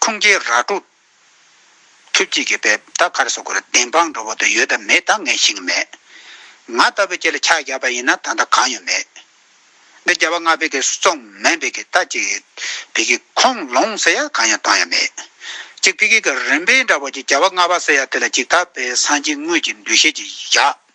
ཁུང་ཀྱི་ར་ཀྲུག་ཐུབ་ཅིག་གི་པེ་ད་གར་སོ་གུ་ར་དེན་པང་འགྲོ་བོ་དུ་ཡོད་ད་མེད་ད་ངས་ཤིང་མེད་ང་ལྟ་བུ་ཁྱེད་ལ་ཁྱག་རྒྱབ་པ་ཡིན་ན་ད་ད་གང་ཡོད་མེད་འདི་རྒྱ་བ་ལྔ་འཕེལ་གི་སོང་མེན་པེ་གི་ད་ཅིག་བི་གི་ཁོང་ལོང་ཟེར་ཡ་གང་ཡང་གཏོང་ཡ་མེད་ཅིག་བི་གི་གི་རིན་པེན་འདྲ་བོ་ཅིག་རྒྱ་བ་ལྔ་བ་ཟེར་ཡ་དེ་ལ་ཅིག་ད་བེ་སང་ཅིག་དངོས་ཀྱི་འདུ་ཤེས་ཅིག་བཞག།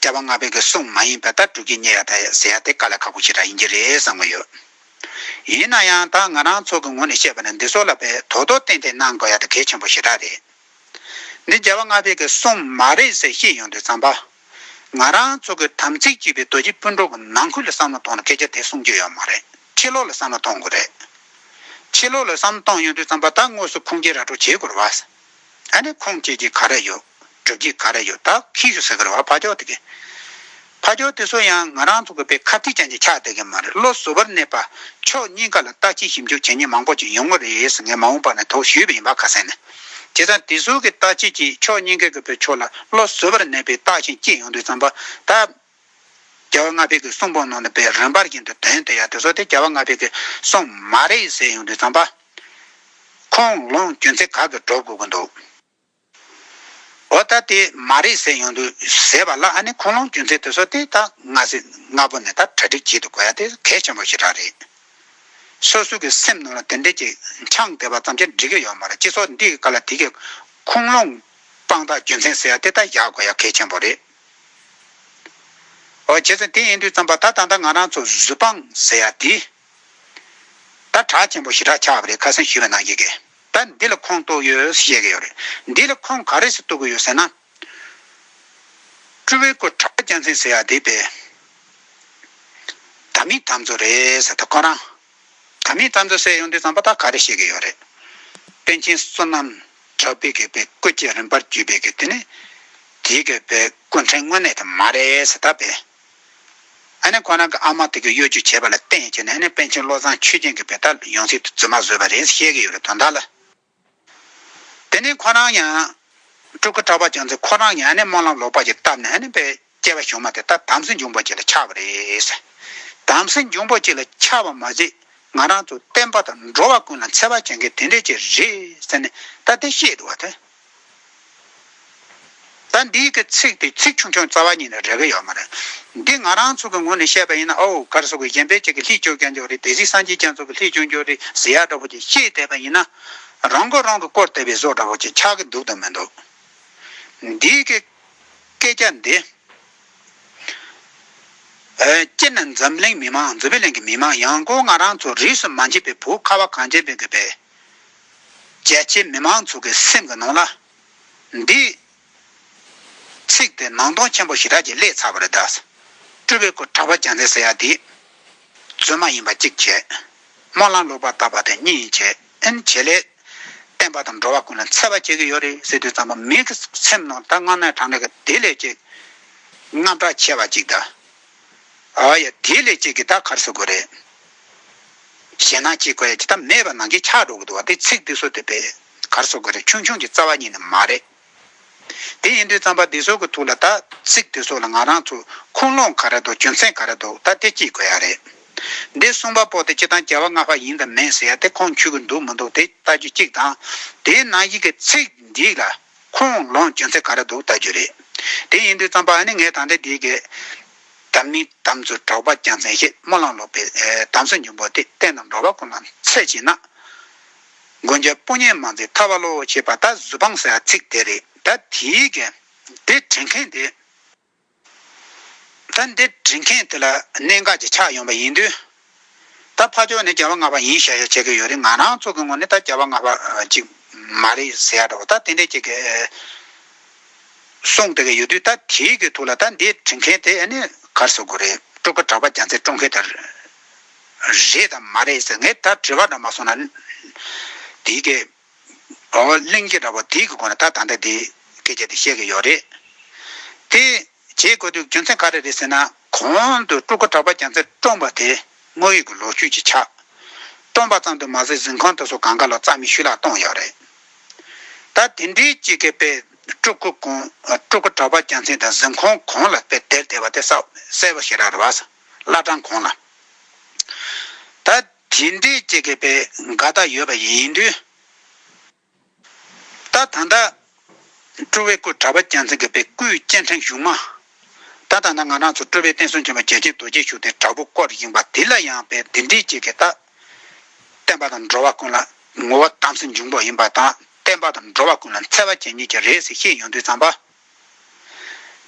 བསྐལ་པ་ལྔ་བོད་ཀྱི་གསུང་མ་ཡིན་པའི་ལྟར་སྒྲུབ་ཀྱིས་ཉེས་ཡ་ད་ཡ་ཟེར་ཡ་དེ་ཀ་ལ་ཁག་པོ་ཞིག་རག་ཡིན་གྱི་རེད་བསམ་གི་ཡོད། ཡིན་ན་ཡང་ད་ང་རང་ཚོ་གི་ངོ་ནས་བཤད་པ་ནི་འདི་ཚོ་ལ་བས་དོ་དོ་ཏན་ཏན་གནང་དགོས་ཡ་ད་གལ་ཆེན་པོ་ཞེ་དྲག་རེད། འདི་རྒྱལ་བ་ལྔ་བོད་ཀྱི་གསུང་མ་རེད་ཟེར་ཤེས་ཡོང་དུས་ཙམ་པ། ང་རང་ཚོ་གི་དམ་ཚིག་གཅིག་པའི་རྡོ་རྗེ་སྤུན་གྲོགས་ཀྱི་ནང་ཁུལ་ལ་བསམ་བློ་གཏོང་ན་སྐད་ཆ་དེ་གསུང་རྒྱུ་ཡོད་མ་རེད་ཕྱི་ལོག་ལ་བསམ་བློ་གཏོང་དགོས་རེད། ཕྱི་ལོག་ལ་བསམ་བློ་གཏོང་ཡོང་དུས་ཙམ་པ་ད་དངོས་སུ་ཁུངས་སྐྱེལ་ར་སྤྲོད་བྱེད་དགོས་ར་བ། ཨ་ནི་ཁུངས་སྐྱེལ་གྱི་ག་རེ་ཡོད། སྒྲུབ་བྱེད་ག་རེ་ཡོད་དག་གིས་ཞུ་ཟེར་གི་རེད་བ་ཕ་ཅོག་དེ་གི། ཕ་ཅོག་དེ་ཚོ་ཡང་ང་རང་ཚོ་གི་པའི་ཁ་ཐིག་ཅན་གྱི་ཆགས་བསྡད་གི་མ་རེད་བློ་གཟུ་བར་གནས་པ་ཕྱོགས་གཉིས་ཀ་ལ་ལྟ་ཅི་ཞིབ་འཇུག་བྱེད་ཉེན་མང་པོ་ཅིག་ཡོང་གི་རེད་ཟེར་ངས་མ་འོངས་པ་ནས་དོགས་ཞུས་པ་ཡིན་པ་ཁ་གསལ་ནི། བྱས་ཙང་དེ་ཚོ་གི་ལྟ་བྱེད་ཀྱིས་ཕྱོགས་གཉིས་ཀའི་གི་པའི་ཕྱོགས་ལ་བློ་གཟུ་བར་གནས་པའི་རྟགས་ཤིང་སྐྱེས་ཡོང་དུས་ཙམ་པ་ད། རྒྱ་བ་ང་ཕེ་གི་གསུང་པོ་ནང་ནས་པའི་རིན་པར་བཞིན་དུ་དོན་དེ་ཡང་དེ་ཚོ་དེ་རྒྱ་བ་ང་ཕེ་གི་གསུང་མ་རེད་ཟེར་ཡོང་དུས་ཙམ་པ། ཁོང་ལོངས་སྐྱོན་ཚད་ག་གི་འགྲོ་དགོས་གི་འདུག། འོ་ད་དེ་མ་རེད་ཟེར་ཡོང་དུས་ཟེར་བ་ལ་ཨ་ནི་ཁུངས་ལུང་རྒྱུ་མཚན་དེ་ཚོ་དེ་ད་སྔ་ཟས་སྔ་པོ་ནས་ད་གྲ་སྒྲིག་བྱེད་དུ་དགོས་ཡ་དེ་གལ་ཆེན་པོ་ཞིག་རག་རེད། སོ་སོ་གི་སེམས་ནང་ལ་དེ་འདྲས་ཀྱི་འཆང་དེ་བ་ཙམ་ཅན་འགྲིག་གི་ཡོད་མ་རེད་སྤྱི་ཚོགས་འདིའི་ཀ་ལ་དེ་གའི་ཁུངས་ལུང་དཔང་རྟགས་རྒྱུ་མཚན་ཟེར་ཡ་དེ་ད་བཞག་དགོས་ཡ་གལ་ཆེན་པོ་རེད། ཨོ་བྱས་ཙང་དེ་ཡིན་དུས་ཙམ་པ་ད་ད་ང་རང་ཚོ་གཟུ་དཔང་ཟེར་ཡ་དེ། ད་གྲགས་ཆེན་པོ་ཞི་དྲག་ཆགས་པ་རེད་ཁ་སང་ཞུས་པ་ནང་བཤད་གི། ད་འདི་ལ་ཁོངས་གཏོགས་ཡོད་ཟེར་བཤད་གི་ཡོད་རེད། འདི་ལ་ཁོངས་ག་རེ་ཟེར་གཏོགས་གི་ཡོད་ཟེར་ན། ཀྲུའུ་ཝེ་ཀོ་གྲགས་རྒྱ་མཚན་ཟེར་ཡག་དེ་པའི་དམ་མི་དམ་ཚོ་རེད་ད་ཁོ་རང། དམ་མི་དམ་ཚོ་ཟེར་ཡོང་དུས་ཙམ་པོ་ད་ག་རེ་བཤད་གི་ཡོད་རེད། པཎ་ཆེན་བསོད་ནམས་གྲགས་པའི་གི་པའི་སྐུ་བཅས་རིམ་པར་བརྒྱུད་པའི་གི་དེ་ནི། དེའི་གི་པའི་སྐུ་འཕྲེང་དངོས་གནས་དེ་མ་རེད་ཟེར་ད་པའི། ཨ་ནེ་ཁོ་རང་གི་ཨ་མ་དེ་གི་གཡོ་སྒྱུ་བྱས་པ་ལ་བརྟེན་ཡིན་ཅེས་ནས་ཨ་ནེ་པཎ་ཆེན་བློ་བཟང་ཆོས་སྦྱིན་གྱི་བུ་ད་ཡོང་ཚིག་ཏུ་རྫུན་མ་བཟོས་པ་རེད་བཤད་ཀྱི་ཡོད་རེད་དོན་དག་ལ། དེ་ནས་ཁོ་རང་ཡང། སྤྲུལ་སྐུ་གྲགས་པ་བྱུང་ཚེ་ཁོ་རང་ཡང་ཨ་ནེ་སྨོན་ལམ་ལོག་པར་གྱིས་བཏབ་ནས་ཨ་ནེ་པའི་སྐྱེ་བ་ཞུགས་མ་དེ་ད་དམ་སྲི་འབྱུང་པོ་གཅིག་ལ་ཆགས་པ་རེད། དམ་སྲི་འབྱུང་པོ་གཅིག་ལ་ཆགས་པ་མ་ཟད་ང་རང་ཚོ་བསྟན་པ་དང་འགྲོ་བ་ཀུན་ལ་འཚེ་བ་བྱེད་མཁན་དེ་འདྲས་ཅིག་རེད་ཟེར་ནས་ད་དེ་བཤད་འདུག་བ་དེ། ད་འདིའི་གི་ཚིག་དེ་ཚིག་ཆུང་ཆུང་རྩ་བ་ཉིད་ནས་རེ་གི་ཡོད་མ་རེད། འདི་ང་རང་ཚུགས་ཀྱི་ངོ་ནས་བཤད་པ་ཡིན་ན་ཨོའུ་གར་སོགས་ཀྱི་གཞན་པའི་ཅིག་གི་ལྷིས་བཅོས་ཀྱང་འཇོག་རེས་དེ་གཟིགས་སངས་རྒྱས་ཀྱང་ཚུགས་ཀྱི་ལྷིས་བཅོས་འཇོག་རེས་ཟེར་ཡག་འདྲ་བོ་ཅིག་ཤེས་བསྡད་པ་ཡིན་ན། རང་མགོ་རང་གི་བསྐོར་བསྡད་པའི་བཟོ་འདྲ་བོ་ཅིག་ཆགས་ཀྱི་འདུག་དང་མི་འདུག་འདིའི་གི་སྐད་ཆ་འདི། སྤྱིར་ན་འཛམ་གླིང་མི་དམངས་འཛོ་བི་ལན་གྱི་མི་དམངས་ཡང་སྒོས་ང་རང་ཚོ་རིས་སུ་མ་མཆིས་པའི་བུ་ཁ་བ་གངས་ཅན་པའི་གི་བེ། རྒྱལ་གཅེས་མི་མང་ཚོགས་ཀྱི་སེམས་ཀྱི་ནང་ལ། འདི། ཚིག་དེ་ནང་སྟོང་ཆེན་པོ་ཞི་དྲག་གི་སླད་ཚགས་པར་གདགས། སྤྲུལ་པའི་སྐུ་དྲག་པོ་རྒྱ་མཚན་ཟེར་ཡ་འདི། རྫུན་མ་ཡིན་པ་གཅིག་བྱས། སྨོན་ལམ་ལོག་པར་བཏབ་པ་དེ་གཉིས་བྱས་ཨིན་བྱས་ལས། བསྟན་པ་དང་འགྲོ་བ་ཀུན་ལ་འཚེ་བ་བྱེད་ཀྱི་ཡོད་རེད་ཟེར་དུས་ཙམ་པ་མིའི་སེམས་ནང་ད་སྔ་ནས་དྲང་གྲགས་དེ་ལས་གཅིག། རྔམ་དྲག་ཆེ་བ་གཅིག་གདའ། ཨ་ཡ། དེ་ལས་གཅིག་གིས་ད་གར་བཟོ་དགོས་རེད། གཞན་ནང་གཅིག་གོ་ཡ་ཇི་ལྟར་མེད་པ་ནང་གིས་ཆགས་འགྲོ་གི་འདུག་བ་དེ་ཚིག་འདི་བཟོ་དེ་པས་གར་བཟོ་དགོས་རེད་ཆུང་ཆུང་གི་རྩ་བ་ཉིད་ནི་མ་རེད། དེ་ཡིན་དུས་རྩམ་པ་འདི་བཟོ་གི་འདུག་ལ་ད་ཚིག་འདི་བཟོ་ལ་ང་རང་ཚོ་ཁུངས་ལུང་ག་རེ་འདུག་རྒྱུ་མཚན་ག་རེ་འདུག་ད་དེ་གཅིག་གོ་ཡ་རེད། འདི་གསུངས་པ་པོ་དེ་སྤྱི་དང་རྒྱལ་བ་ལྔ་པ་ཡིན་དང་མིན་ཟེར་ཡ་དེ་ཁོང་འཁྱུད་གི་འདུག་མི་འདུག་དེ་ལྟ་རྒྱུ་གཅིག་དང། དེའི་ནང་གཞིག་གི་ཚིག་འདི་ལ་ཁོང་ལོངས་སྤྱོད་ཚད་ག་རེ་འདུག་བལྟ་རྒྱུ་རེད། དེ་ཡིན་དུས་རྩམ་པ་ནི་ངས་ད་ལྟའི་དུས་ཀྱི། དམ་ནི་དམ་ཚོ་གྲོགས་པ་རྒྱལ་མཚན་ཞེས་སྨོན་ལམ་ལོག་པའི། དམ་ཚོ་འཇུན་པོ་དེ་བསྟན་རྣམས་འགྲོ་བ་ཀུན་ལ་འཚེ་བྱེད་ན། མགོན་སྐྱབས་སྤུན་ཉེ་མང་ཚེ་ཐར་བ་བློ་ཞེས་པ་ད་གཟུ་དཔང་ཟེར་བ་ཚིག་དེ་རེད་ད་དེའི། དེ་དྲན་མཁན་དེ། ད་འདི་བྲིས་མཁན་དེ་ལ་གནད་འགག་ཅིག་ཆགས་ཡོང་བ་ཡིན་དུས། ད་ཕ་ཆོག་ནས་བརྒྱ་པ་ང་པ་ཡིན་ཤག་ཤག་བྱེད་ཀྱི་ཡོད་རེད་ང་རང་ཚོ་གི་ངོ་ནས་ད་བརྒྱ་པ་ང་པ་ཅིག་མ་རེད་ཟེར་ཡག་འདྲ་བོ་ད་དེ་འདྲས་བྱེད་ཀྱི་གསུངས་བསྡད་ཀྱི་ཡོད་དུས་ད་དེའི་གི་ཐུགས་ལ་ད་འདི་བྲིས་མཁན་དེ་ནི་གར་ཟེར་དགོས་རེད་སྤྲུལ་སྐུ་གྲགས་པ་རྒྱ་མཚན་སྤྲོ་མཁན་དེ་རེད་དམ་མ་རེད་ཟེར་ངས་ད་བྲིས་པ་འདྲ་མ་སོང་ན་དེའི་གི། ཨོ་གླིང་རྒྱས་འདྲ་བ་དེའི་གི་གོ་ན་ད་ད་འདྲ་དེ་སྐད་ཆ་དེ་བཤད་གི་ཡོད་རེད། དེ་བྱེད་དགོས་དུས་རྒྱུ་མཚན་ག་རེ་རེད་ཟེར་ན་གོང་དུ་སྤྲུལ་སྐུ་གྲགས་པ་རྒྱ་མཚོས་བཀྲོངས་པ་དེ་དངོས་ཡོད་གི་ལོ་རྒྱུས་ཀྱི་ཆ། བཀྲོངས་པ་ཙམ་དུ་མ་ཟད་གཟིམ་ཁང་དུ་སོ་གང་ག་ལ་རྩ་མི་ཤུ་ལག་གཏོང་ཡོད་རེད། ད་དེ་འདྲའི་སྤྱི་སྐད་པས་སྤྲུལ་སྐུ་གོང་སྤྲུལ་སྐུ་གྲགས་པ་རྒྱ་མཚན་དང་གཟིམ་ཁང་གོང་ལ་དཔེ་བལྟས་བལྟས་པ་དེ་གསལ་བོ་ཞེ་རག་རེད་བ། བླ་བྲང་གོང་ལ། ད། དེ་འདྲའི་སྐྱེ་དགོས་པའི་འགལ་ཟླ་ཡོད་པ་ཡིན་དུས། ད་ད་ད། སྤྲུལ་བའི་སྐུ་གྲ་པ་རྒྱལ་མཚན་དགེ་བའི་སྐུའི་སྤྱན་འཕྲེང་བཞུགས་མ། ད་ད་ད་ང་རང་ཚོ་སྤྲུལ་བའི་བསྟན་སྲུང་ཆེན་པོ་རྒྱལ་ཆེན་རྡོ་རྗེ་ཞུགས་ཏེ་དྲག་པོ་བསྐོར་ཡིན་པ་དེ་ལ་ཡང་བས་འདི་འདྲའི་སྐྱེ་དགོས་ད། བསྟན་པ་དང་འགྲོ་བ་ཀུན་ལ་ངོ་བོ་དམ་སྲི་འབྱུང་པོ་ཡིན་པ་དང་བསྟན་པ་དང་འགྲོ་བ་ཀུན་ལ་འཚེ་བ་ཅན་ཉིད་ཀྱི་རེད་ཟེར་ཤེས་ཡོང་དུས་ཙམ་པ།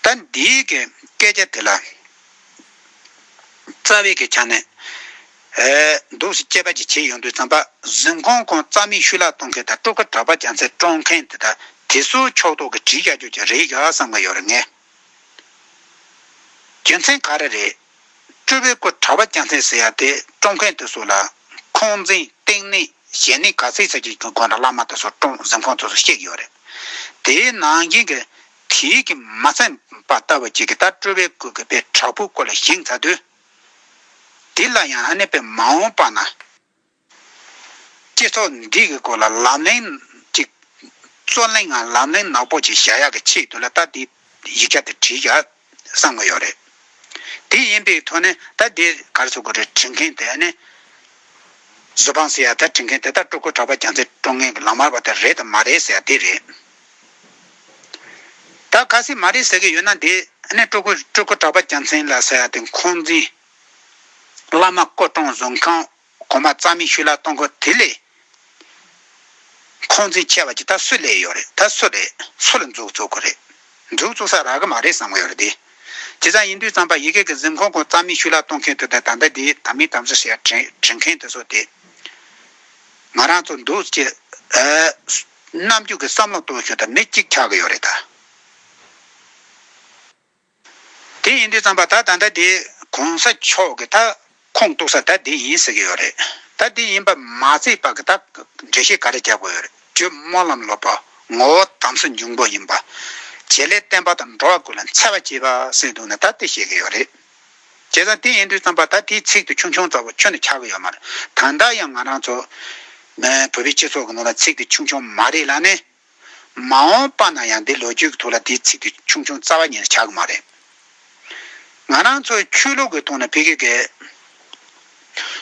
ད་འདིའི་གི་སྐད་ཆ་དེ་ལ་རྩ་བའི་གི་ཆ་ནས་འདུག་སེ་སྐྱེས་པ་ཅིག་བྱེད་ཡོང་དུས་ཙམ་པ་གཟིམ་ཁང་ཁོང་རྩ་མིག་ཤུ་ལག་གཏོང་མཁན་དང་སྤྲོ་དགའ་གྲྭ་པ་བྱ་མཚན་བཀྲོངས་མཁན་དེ་དག་དེ་ཚོའི་ཕྱོགས་གཏོགས་གི་བྲིས་བཞག་རྒྱུ་ཅིག་རེད་ག་བསམ་གི་ཡོད་རེད་ངས་རྒྱུ་མཚན་ག་རེ་རེད། སྤྲུལ་པའི་སྐུ་དྲ་བ་སྐྱ་མཚལ་ཟེར་ཡ་དེ་བཀྲོངས་མཁན་དུ་བཟོ་ལ། ཁོང་འཛིན་སྟེང་ནས་གཞན་ནས་ག་ཚད་ཚད་ཀྱི་དགོན་དྲ་བླ་མ་དེ་ཚོ་བཀྲོངས་གཟིམ་ཁང་ཚོ་སུ་གཤེགས་ཡོད་རེད། དེའི་ནང་རྐྱེན་གི་དེའི་གི་མ་མཚན་པ་ལྟ་བུ་གཅིག་གི་ད་སྤྲུལ་པའི་སྐུ་གི་པའི་དྲ་ཕུག་སྐོར་ལ་བཞེངས་ཚར་དུས། དེ་ལ་ཡང་ཨ་ནེ་པའི་མ་འོངས་པ་ན། སྤྱི་ཚོགས་འདི་གི་སྐོར་ལ་ལམ་གླེང་གཅིག། རྩོད་གླེང་ངམ་ལམ་གླེང་ནག་པོ་ཅིག་བྱ་ཡག་གི་ཆེད་དུ་ལ་ད་འདི་ཡིག་ཆ་འདི་བྲིས་ཀྱང་བསམ་གི་ཡོད་རེད། དེ་ཡིན་པའི་ཐོག་ནས་ད་འདི་ག་རེ་བྱེད་དགོས་རེད་དྲིས་མཁན་དེ་ནི། བཟོད་དཔང་ཟེར་ཡག་ད་དྲིས་མཁན་དེ་དག་སྤྲུལ་སྐུ་གྲགས་པ་རྒྱ་མཚོས་དཀྲོང་མཁན་གྱི་ལག་དམར་བ་དེ་རེད་དམ་མ་རེད་ཟེར་ཡག་འདི་རེད། ད་ག་སེ་མ་རེད་ཟེར་གི་ཡོད་ན་འདི་ནི་སྤྲུལ་སྐུ་གྲགས་པ་རྒྱ་མཚན་ལ་ཟེར་ཡག་འདི་འཁོན་འཛིན། བླ་མ་སྐུ་གྲོངས་བཟོད་ཁང་གོང་མ་རྩ་མེད་ཤུལ་ལ་གཏོང་དགོས་དེ་ལས། ཁོང་ཚོས་ཁྱེར་བ་ཇི་ལྟར་སུས་ལས་ཡོད་རེད་ད་སུ་རེད་སུ་ལ་འཛུགས་བཙུགས་དགོས་རེད་འཛུགས་བཙུགས་ས་རག་གི་མ་རེད་བསམ་གི་ཡོད་རེད་དེ་ཇི་ཙམ་ཡིན་དུས་ཙམ་པ་ཡི་གེ་གི་གཟིམ་ཁང་གོང་རྩ་མེད་ཤུལ་ལ་གཏོང་མཁན་དུ་དེ་ད་ལྟ་དེའི་དམ་མི་དམ་ཟེར་ཞེས་དྲིན་དྲིན་མཁན་དེ་ཚོ་དེ་ང་རང་ཚོ་འདུག་ཅེས་རྣམ་རྒྱུག་གི་བསམ་བློ་གཏོང་ཞོར་དུ་མི་གཅིག་འཁྱག་གི་ཡོད་རེད་ད། དེ་ཡིན་དུས་བརྩམས་པ་ད་ད་ད་དེ་གོང་ས་མཆོག་གི་ད་ཁོངས་གཏུགས་ས་ད་དེ་ཡིན་ཟེར་གྱི་ཡོད་རེད་ད་དེ་ཡིན་པ་མ་བརྩིས་པར་གི་ད་འགྲེལ་བཤད་ག་རེ་རྒྱག་དགོས་ཡོད་རེད་ཇོ་མོ་ལམ་ལོག་པ་ངོ་བོ་དམ་སྲི་འབྱུང་པོ་ཡིན་པ་བྱེད་ལས་བསྟན་པ་དང་འགྲོ་བ་ཀུན་ལ་འཚེ་བ་བྱེད་པ་སེམས་སྡུག་ནས་ད་དེ་བཤད་གི་ཡོད་རེད་བྱས་ཙང་དེ་ཡིན་དུས་བརྩམས་པ་ད་དེའི་ཚིག་དུ་ཆུང་ཆུང་ཙམ་པོ་ཁྱོན་ནས་ཆགས་གི་ཡོད་མ་རེད་ད་ལྟ་ཡང་ང་རང་ཚོ་བོད་པའི་སྤྱི་ཚོགས་ཀྱི་ནང་ལ་ཚིག་དེ་ཆུང་ཆུང་མ་རེད་ལ་ནི། མ་འོངས་པ་ན་ཡང་འདི་ལོ་རྒྱུས་ཀྱི་ཐོག་ལ་དེའི་ཚིག་གི་ཆུང་ཆུང་རྩ་བ་ཉིད་ཆགས་ཀྱི་མ་རེད། ང་རང་ཚོའི་ཆོས་ལུགས་ཀྱི་ཐོག་ནས་ཕི་གེ་གེ།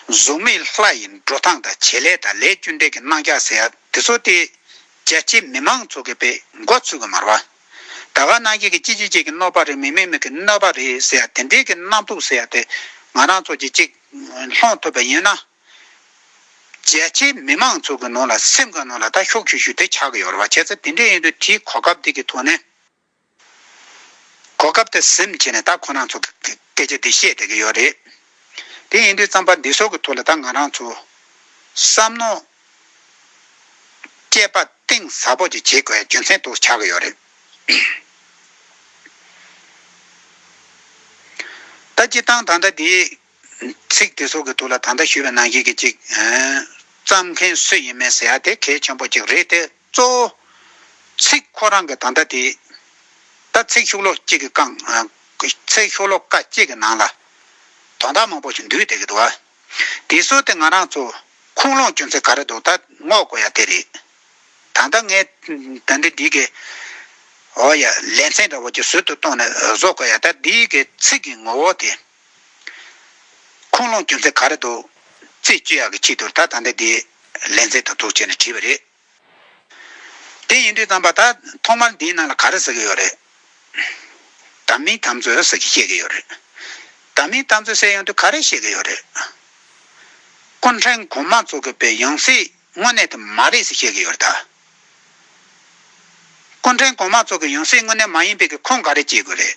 གཟུགས་མེད་ལྷ་ཡི་འགྲོ་སྟངས་དང་བྱེད་ལས་དང་ལས་རྒྱུ་འབྲས་ཀྱི་སྣང་རྒྱ་ཟེར་ཡ་དེ་ཚོ་སྟེ། རྒྱལ་སྤྱིའི་མི་མང་ཚོ་གི་པའི་འགོ་ཚུགས་ཀྱི་མ་རེད། ད་ག་ནང་ཁྱེད་ཀྱི་ཅི་ཅི་ཅིག་གི་གནོད་པ་རེད་མི་མི་མིག་གི་གནོད་པ་རེད་ཟེར་ཡ་དེ་འདྲའི་གི་སྣང་སྟུག་ཟེར་ཡ་དེ་ང་རང་ཚོ་གྱི་ཅིག་སློང་ཐུབ་པ་ཡིན་ན། རྒྱལ་སྤྱིའི་མི་དམངས་ཚོ་གི་ནང་ལ་སེམས་གང་ནང་ལ་ད་ཤོག་ཤུ་ཤུ་དེ་ཆགས་ཀྱི་ཡོད་རེད་བ་བྱས་ཙ་དེ་འདྲས་ཡིན་དུས་དེའི་གོ་སྐབས་དེ་གི་ཐོག་ནས་གོ་སྐབས་དེ་སེམས་བྱས་ནས་ད་ཁོ་ནང་ཚོ་གི་སྐད་ཆ་དེ་བཤད་བསྡད་ཀྱི་ཡོད་རེད་དེ་ཡིན་དུས་རྩམ་པ་འདི་ཚོ་གི་ཐོག་ལ་ད་ང་རང་ཚོ་བསམ་མནོ་སྐྱེད་པ་གཏིང་ཟབ་པོ་ཅིག་བྱེད་དགོས་རྒྱུ་མཚན་དུ་ཆགས་ཀྱི་ཡོད་རེད། ད་སྤྱི་བཏང་ད་ལྟ་དེའི། ཚིག་དེ་སོགས་ཀྱི་ཐུགས་ལ་ད་ལྟ་ཞུས་པའི་ནང་བཞིན་གྱི་ཅིག། བརྩམ་མཁན་སུ་ཡིན་མིན་ཟེར་ཡ་དེ་གལ་ཆེན་པོ་ཅིག་རེད་དེ་གཙོ་བོ། ཚིག་ཁོ་རང་གི་ད་ལྟ་དེ། ད་ཚིག་ཤུགས་ལོ་གཅིག་གི་རྐང། ཚིག་ཤུགས་ལོ་ཀ་གཅིག་གི་ནང་ལ། དོན་དག་མང་པོ་ཞིག་འདུས་བསྡད་ཀྱི་འདུག་ཨ། དེ་སྲོལ་དེ་ང་རང་ཚོ། ཁུངས་ལུང་བསྐྱོན་ཚེ་ག་རེ་འདུག་ད་སྔོག་དགོས་ཡ་དེ་རེད། ད་ལྟ་ངས་ད་འདི་འདི་གི། འོ་ཡ་ལེ་ཚན་འདྲ་བོ་ཅིག་ཟུར་དུ་གཏོང་ནས་བཟོ་དགོས་ཡ་ད་འདི་གི་ཚིག་གི་ངོ་བོ་དེ། ཁུངས་ལུང་རྒྱུ་མཚན་ག་རེ་འདུག། རྩིས་སྤྱི་ཡག་གི་ཆེད་དུ་ད་ད་འདི་འདི། ལན་ཚེ་ད་དུག་བྱས་ནས་བྲིས་པ་རེད། དེ་ཡིན་དུས་བརྩམས་པ་ད་ཐོག་མར་འདིའི་ནང་ལ་ག་རེ་ཟེར་གི་ཡོད་རེད། དམ་མིའི་དམ་རྩོད་ཟེར་གི་བཤད་གི་ཡོད་རེད། དམ་མིའི་དམ་རྩོད་ཟེར་ཡོང་དུས་ག་རེ་བཤད་གི་ཡོད་རེད། སྐུ་འཕྲེང་གོང་མ་ཚོ་གི་པའི་ཡང་སྲིད། དངོས་གནས་དུ་མ་རེད་ཟེར་བཤད་གི་ཡོད་རེད་ད། སྐུ་འཕྲེང་གོང་མ་ཚོ་གི་ཡང་སྲིད་དངོས་གནས་མ་ཡིན་པའི་གི་ཁུངས་ག་རེ་བསྐྱེལ་དགོས་རེད།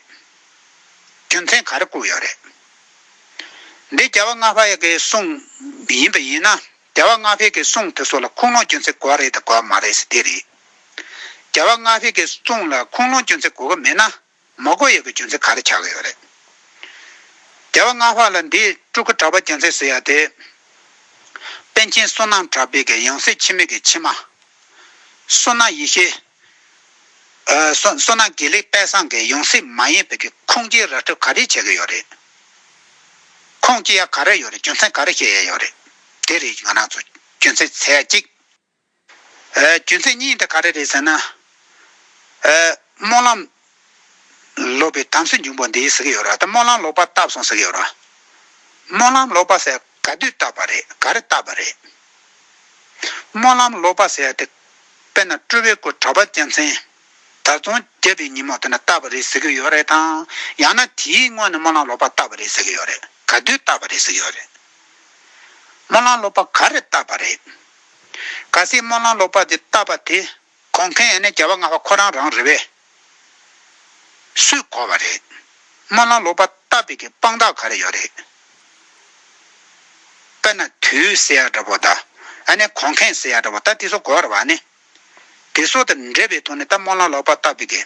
རྒྱུ་མཚན་ག་རེ་བཀུག་ཡོད་རེད། འདི་རྒྱལ་བ་ལྔ་བྷ་ཡ་གི་གསུང་ཡིན་པ་ཡིན་ན་རྒྱལ་བ་ལྔ་བྷའི་གི་གསུང་དེ་ཚོ་ལ་ཁུངས་ལུང་སྐྱོན་ཚེ་གོ་རེད་ད་གོ་མ་རེད་ཟེར་དེ་རེད། རྒྱལ་བ་ལྔ་བྷའི་གི་གསུང་ལ་ཁུངས་ལུང་སྐྱོན་ཚེ་གོ་གི་མེད་ན་མོག་གོ་ཡོད་པའི་རྒྱུ་མཚན་ག་རེ་ཆགས་ཀྱི་ཡོད་རེད། རྒྱལ་བ་སྔགས་ལྷ་ལ་འདིས་སྤྲུལ་སྐུ་གྲགས་པ་རྒྱལ་མཚན་ཟེར་ཡ་དེ། པཎ་ཆེན་བསོད་ནམས་གྲགས་པའི་གི་ཡང་སྲིད་འཆི་མེད་ཀྱི་ཕྱི་མ། བསོད་ནམས་ཡེ་ཤེས། བསོད་ནམས་དགེ་ལེགས་དཔལ་བཟང་གི་ཡང་སྲིད་མ་ཡིན་པའི་གི་ཁུངས་སྐྱེལ་ར་སྤྲོད་ག་རེ་བྱས་ཀྱི་ཡོད་རེད། ཁུངས་སྐྱེལ་ཡ་ག་རེ་ཡོད་རེད་རྒྱུ་མཚན་ག་རེ་བཤད་ཡ་ཡོད་རེད། དེ་རེད་ང་རང་ཚོ་རྒྱུ་མཚན་ཟེར་ཡ་གཅིག། རྒྱུ་མཚན་གཉིས་དེ་ག་རེ་རེད་ཟེར་ན། སྨོན་ལམ་ལོག་པའི་དམ་སྲི་འབྱུང་པོ་འདི་ཟེར་གྱི་ཡོད་ར་ད་སྨོན་ལམ་ལོག་པ་བཏབ་སོང་ཟེར་གྱི་ཡོད་ར། སྨོན་ལམ་ལོག་པ་ཟེར་ག་དུས་བཏབ་པ་རེད་ག་རེ་བཏབ་པ་རེད། སྨོན་ལམ་ལོག་པ་ཟེར་དེ་དཔེར་ན་སྤྲུལ་བའི་སྐུ་གྲགས་པ་རྒྱལ་མཚན་དར་རྫོང་རྒྱལ་པོའི་ཉིན་མོ་དེ་ན་བཏབ་པ་རེད་ཟེར་གྱི་ཡོད་རེད་དང་ཡང་ན་དེའི་སྔོན་ནས་སྨོན་ལམ་ལོག་པ་བཏབ་པ་རེད་ཟེར་གྱི་ཡོད་རེད་ག་དུས་བཏབ་པ་རེད་ཟེར་གྱི་ཡོད་རེད། སྨོན་ལམ་ལོག་པ་ག་རེ་བཏབ་པ་རེད། ག་སྲིད་སྨོན་ལམ་ལོག་པར་འདི་བཏབ་པ་དེ། གོང་མཁན་ཡང་ནི་རྒྱལ་བ་ང་བ་ཁོ་རང་རང་རེད་བས། སུས་གོ་བ་རེད། སྨོན་ལམ་ལོག་པར་བཏབ་པའི་གི་དཔང་རྟགས་ག་རེ་ཡོད་རེད། དཔེར་ན་དུས་སེ་ཡ་འདྲ་པོ་ད། ཨ་ནི་གོང་མཁན་སེ་ཡ་འདྲ་པོ་ད་དེ་སོགས་གོ་བར་བ་ནི། དེ་སོགས་དང་འབྲེལ་བའི་ཐོག་ནས་ད་སྨོན་ལམ་ལོག་པར་བཏབ་པའི་གི།